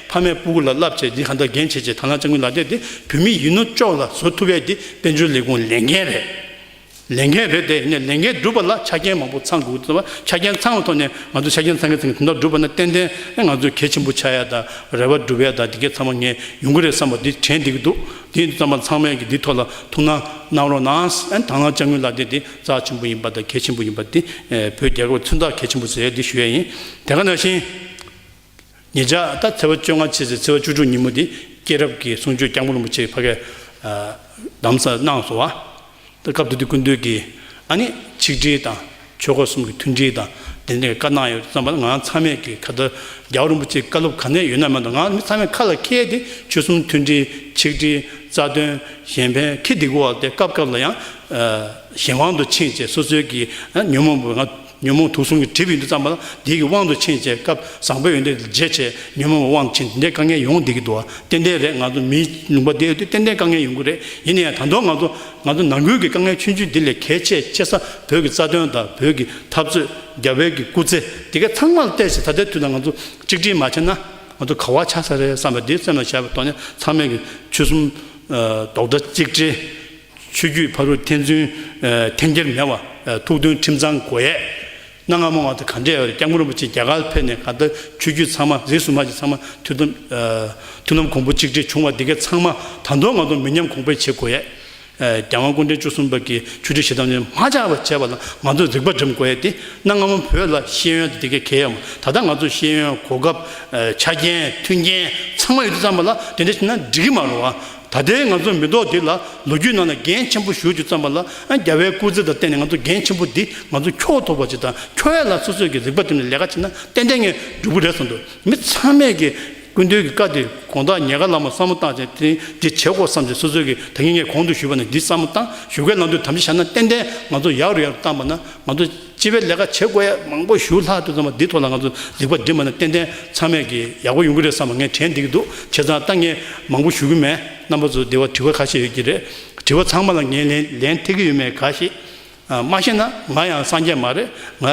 ཕ་མས་སྤུ་གུ་ལ་བསླབ་བྱས་འདི་ག་འདྲ་རྒན་བྱེད་ཅེས་དར་ནག་ལྕགས་མི་ལ་སྟེར་ཏེ་བུད་མེད་ཡིན་ནོ་ཅོག་ལ་བཟོ་ཐུབ་པས་འདི་དཔལ་འབྱོར་ལས་ཁུངས་ལས་འགན་རེད། ལས་འགན་རེད་དེ་ནས་ལས་འགན་སྒྲུབ་པ་ལ་ཆ་རྐྱེན་མང་པོ་ཚང་དགོས་བ་ཆ་རྐྱེན་ཚང་བའི་ཐོག་ནས་ང་ཚོས་ཆ་རྐྱེན་ཚང་གི་ཚང་གི་དོན་དག་སྒྲུབ་པ་ན་ཏན་ཏན་ང་ཚོས་གལ་ཆེན་པོ་ཆགས་ཡ་དང་རེ་བ་སྒྲུབ་ཡ་དང་འདི་གས་ཚང་མ་ངས་ཡོང་གི་རེད་བསམ་པ་འདི་དྲན་འདི་གི་འདུག་འདི་ཙམ་པ་ཚང་མས་ཀྱི་འདི་ཐོག་ལ་ཐུགས་སྣང་གནང་རོགས་གནང་དར་ནག་ལྕགས་མི་ལ་སྟེར་འདི་རྩ་ཆེན་པོ་ཡིན་པ་དང་གལ་ཆེན་པོ་ཡིན་པ་འདི་བོད་རྒྱལ་ཁབ་ལ་མཚོན་རྟགས་གལ་ཆེན་པོ་ཟེར་ཡ་འདི་ཞུ་ཡ་ཡིན་དེ་ག་ནང་བཞིན། ངེད་ཅག་ད་ཚེ་བ་བཅོ་ལྔ་ཕྱི་ཚེས་ཚེ་བ་བཅུ་དྲུག་ཉིན་མོ་འདི་སྐྱེས་རབས་ཀྱི་གསུང་ཆོས་སྐྱབས་མགོན་རིན་པོ་ཆེའི་ཕ་གས་གདམས་ས་གནང་སོང་བ། ད་སྐབས་འདི་དུས་ཀུན་འདུས་ཀྱི་ཨ་ནི་ཆིག་སྒྲིལ་དང་ཆོས་འཁོར་གསུམ་གྱི་མཐུན་སྒྲིལ་དང་ལྡན་ནས་བཀའ་གནང་ཡོད་བསམ་པ་ང་རང་ཚང་མས་ཀྱི་ཁ་ལྟར་རྒྱ་བོད་རིན་པོ་ཆེའི་བཀའ་སློབ་ག་ནས་ཡོད་ན་མེད་ན་ང་མི་ཚང་མས་ཁ་ལ་ཁྱེར་ཏེ་ཆོལ་གསུམ་མཐུན་སྒྲིལ་ཆིག་སྒྲིལ་རྩ་དོན་གཞན་ཕན་ཁེ་སྡིག་པོ་བ་སྟེ་སྐབས་སྐབས་ལ་ཡང་གཞན་དབང་དུ་ཕྱིན་ཅེས་སོ་སོའི་ཀྱི་ཉོན་མོངས་པའི་ང་ཉོན་མོངས་དུག་གསུམ་གྱི་གྲིབ་ཡུན་དུ་བརྩམས་པ་བདེ་གི་དབང་དུ་ཕྱིན་ཅེས་སྐབས་བཟང་པོའི་ཡོན་ཏན་འདི་འབྱེད་བྱེད་ཉོན་མོངས་པའི་དབང་དུ་ཕྱིན་འདི་འདྲའི་དཀའ་ངལ་ཡོང་བདེ་གི་འདུག་ཏན་ཏན་རེད་ང་ཚོ་མིའི་ལུང་པ་འདིའི་དུས་ཏན་ཏན་དཀའ་ངལ་ཡོང་གི་རེད་ཡིན་ན་ཡང་དང་ཐོག་ང་ཚོ་ང་ཚོ་ནང་ཁུལ་གྱི་དཀའ་ངལ་ཆུང་ཆུང་འདི་ལས་གལ་ཆེ་ཆེ་ས་བོད་ཀྱི་རྩ་དོན་དང་བོད་ཀྱི་འཐབ་རྩོད་རྒྱ་བལ་གྱི་སྐུ་ཚེ་འདི་ག་ཚང་མ་ལ་བལྟས་ཚེ་ད་ལྟའི་དུས་ལ་ང་ཚོ་གཅིག་སྒྲིལ་མ་བྱས་ན་ང་ཚོ་ག་བ་ཆགས་ས་རེད་བསམ་པ་འདི་སེམས་ལ་བཞག་པའི་ཐོག་ནས་ཚང་མས་ཀྱི་ཆོལ་གསུམ་རྡོག་སྒྲ་གཅིག་སྒྲིལ། ཆོས་བརྒྱུད་ཕ་རོལ་ཐན་ཚུན། འཐེན་འཁྱེར་མེད་བར་ཐུགས་མཐུན་ཁྲིམས་གཙང་སྒོ་དབྱེ། གནའ་སྔ་མོ་བར་དུ་ག་འདྲའི་སྐྱབས་མགོན་རིན་པོ་ཆེ་རྒྱ་གར་ཕེབས་ནས་ག་ལྟར་ཆོས་བརྒྱུད་ཚང་མ་རིས་སུ་མ་བྱས་ཚང་མ་ཐུགས་དམ། ཐུགས་དམ་གོང་བུ་གཅིག་སྒྲིལ་བྱུང་བ་འདི་གའི་ཚང་མ་ད་དུང་ང་དང་མི་ཉམས་གོང་འཕེལ་བྱེད་དགོས། རྒྱལ་དབང་སྐུ་འཕྲེང་བཅུ་གསུམ་པ་གིས་ཆོས་ཁྲིད་ཞེ་སྡང་ཉོན་མ་ཆགས་པར་བྱས་པ་ལ་ང་ཚོས་རིག་པ་སྒྲིམ་དགོས་ཡས་དེ་གནའ་སྔ་མོ་བོད་ལ་ཤེས་ཡོན་དེ་འདི་གའི་གལ་ཡོམ་ད་ལྟ་ང་ཚོ་ཤེས་ཡོན་གོ་སྐབས། ཆ་རྐྱེན་མཐུན་རྐྱེན་ཚང་མ་ཡོད་དུས་ཙམ་པ་ལ་དེ་འདྲ་བྱས་ན་འགྲིག་གི་མ་རོ། ད་ལྟའི་ང་ཚོ་མི་ཐོག་འདི་ལ་ལོ་རྒྱུས་ནང་ནས་འགན་ཆེན་པོ་ཞུ་རྒྱུ་བརྩམས་པ་ལ་རྒྱ་བལ་སྐུ་ཚེ་དང་བརྟེན་ནས་ང་ཚོ་འགན་ཆེན་པོ་འདི་ང་ཚོ་འཁྱོག་ཐུབ་པ་བྱེད་དང་འཁྱོག་ཡ་ལ་སོ་སོས་ཀྱི་རིག་པ་འདེམས་ནས་ལས་ཀ་བྱེད་ན་ཏན་ཏན་ངས་འགྲུབ་གི་རེད་བསམ་འདུག་མི་ཚང་མས་ཀྱི་ཀུན་འདུས་ཀྱི་བཀའ་འདི་དགོངས་དག་ཉེ་དགའ་ལ་མོ་བསམ་བློ་བཏང་བྱས་ཏེ་འདི་བྱེད་དགོས་བསམ་བྱས་སོ་སོས་ཀྱི་ད་ངས་ངས་གོང་དུ་ཞུས་པ་ནས་འདི་བསམ་བློ་བཏང་ཞུ་སྐལ་ལང་དུས་དམ་བཞི་བཞག་ན་ཏན་ཏན་ང་ཚོ་ཡག་རུ་ཡག་རུ་བཏང་པ་ན་ང་ཚོ། སྤྱི་བའི་ལས་ཀ་བྱེད་དགོས་ཡ་མང་པོ་ཞུ་ལྷག་དུ་ཙམ་པ་འདི་ཐོག་ལ་ང་ཚོ་ལེགས་པ་འབྲི་མ་ནས་ཏན་ཏན་ཚང་མས་ཀྱི་ཡག་པོ་ཡོང་གི་རེད་བསམ་པ་ངས་དྲན་བསྡད་ཀྱི་འདུག་བྱས་ཙང་ལྟ་ངན་མང་པོ་ཞུ་གི་མེད་རྣམ་པ་ཚོ་དེ་བ་དྲི་བ་ཁ་ཤས་ཡོད་ཀྱི་རེད་དྲི་བ་ཚང་མ་ལ་ངས་ལན་ལན་ཐེག་གི་ཡོད་མེད་ག་ཤེད། མ་ཤེས་ན་ང་ཡང་སངས་རྒྱས་མ་རེད་ང།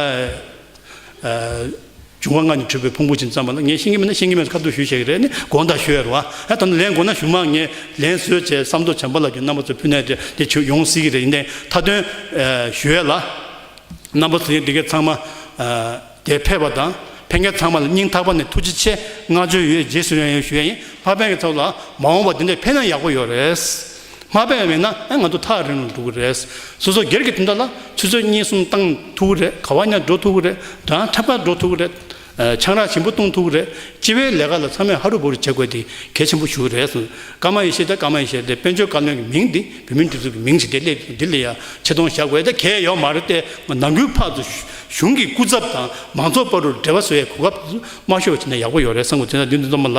འབྱུང་བ་ལྔ་ནི་འཁྲུལ་པའི་ཕུང་པོ་བཞིན་བརྩམས་པ་ལ་ངས་ཤེས་ཀྱི་མེད་ན་ཤེས་ཀྱི་མེད་དུ་ཁ་བསྡུར་ཞུས་ཤིག་རེད་ནི་དགོངས་དག་ཞུ་ཡ་རུ་ཨ་ཨེ་ད་ནི་ལན་དགོས་ན་ཞུ་མ་ངས་ལན་བཟོས་བྱས་བསམ་དོ་བྱམས་པ་ལགས་ཀྱི་རྣམ་པ་ཚོ་ཕུ་ནས་དེ་དེ་བྱུས་ཡོང་སྲིད་ཀྱི་རེད་ཡིན་ནའི་མཐའ་དོན་ཞུ་ཡ་ལ། རྣམ་པ་ཚོ་ཡིན་འདི་གས་ཚང་མ་དེ་ཕེབས་པ་དང་ཕན་མཁན་ཚང་མ་ལ་སྙིང་ཐག་པ་ནས་ཐུགས་རྗེ་ཆེ་བསྔགས་བརྗོད་ཡོད་རྗེས་སུ་ཡང་ཡང་ཞུ་ཡ་ཡིན་ལྷག་ཕན་གྱི་ཚོགས་ལ་མ་འོངས་པ་འདི་འདྲ་ཕེབས་ན་ཡག་པོ་ཡོད་རེད། མ་སྤེལ་བས་ན་ཨེ་ང་ཚོ་ཐག་རིང་རུ་འགྲོ་གི་རེད། སོ་སོ་སྒེར་གྱི་དོན་དག་ལ་ཆུ་ཚོད་གཉིས་གསུམ་བཏང་ཐུབ་ཀི་རེད་ག་བ་ཉག་འགྲོ་ཐུབ་ཀི་རེད་སྦྲང་ཁྲབ་ཁ་འགྲོ་ཐུབ་ཀི་རེད། ཆང་རག་ཞིམ་པོ་བཏུང་ཐུབ་ཀི་རེད་སྤྱི་བའི་ལས་ཀ་ལ་ཚང་མས་ཧ་རུ་བུ་རུ་བྱེད་དགོས་ཏེ་གལ་ཆེན་པོ་ཞུ་གི་རེད། ཀརྨ་ཡེ་ཤེས་དང་ཀརྨ་ཡེ་ཤེས་དེ་དཔལ་འབྱོར་བཀའ་བློན་གྱི་མིང་འདི་བོད་མིའི་སྒྲིག་འཛུགས་ཀྱི་མིང་ཞིག་དེ་སླེབས་འདི་ལ་ཡང་ཆེ་མཐོང་བཞག་དགོས་དེ་གལ་ཡོད་མ་རེད་དེ་ནང་ཁུལ་ཕག་ཏུ་གཞུང་གི་སྐུ་ཚབ་དང་མང་ཚོགས་པར་རུ་འབྲེལ་བ་བཟོ་ཡའི་གོ་སྐབས་དམའ་ཤོས་བྱས་ན་ཡག་པོ་ཡོད་རེད་བསམ་དགོས་དེ་ནས་འདི་འདི་ཚོ་མ་ལ།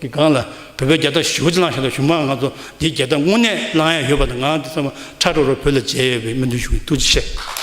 གི་སྒང་ལ་བོད་པའི་རྒྱལ་དར་བཞི་བོ་ཅི་བླངས་ཤེས་ཐོག་གཞུང་མང་ང་ཚོ་འདིའི་རྒྱལ་དར་དངོས་གནས་བླངས་ཡ་ཡོད་པ་དང་ང་འདི་ཚང་མ་ཁྲ་ཁྲོ་རུ་བོད་ལ་མཇལ་ཡོད་པའི་སྨོན་འདུན་ཞུ་གིན་ཐུགས་རྗེ་ཆེ།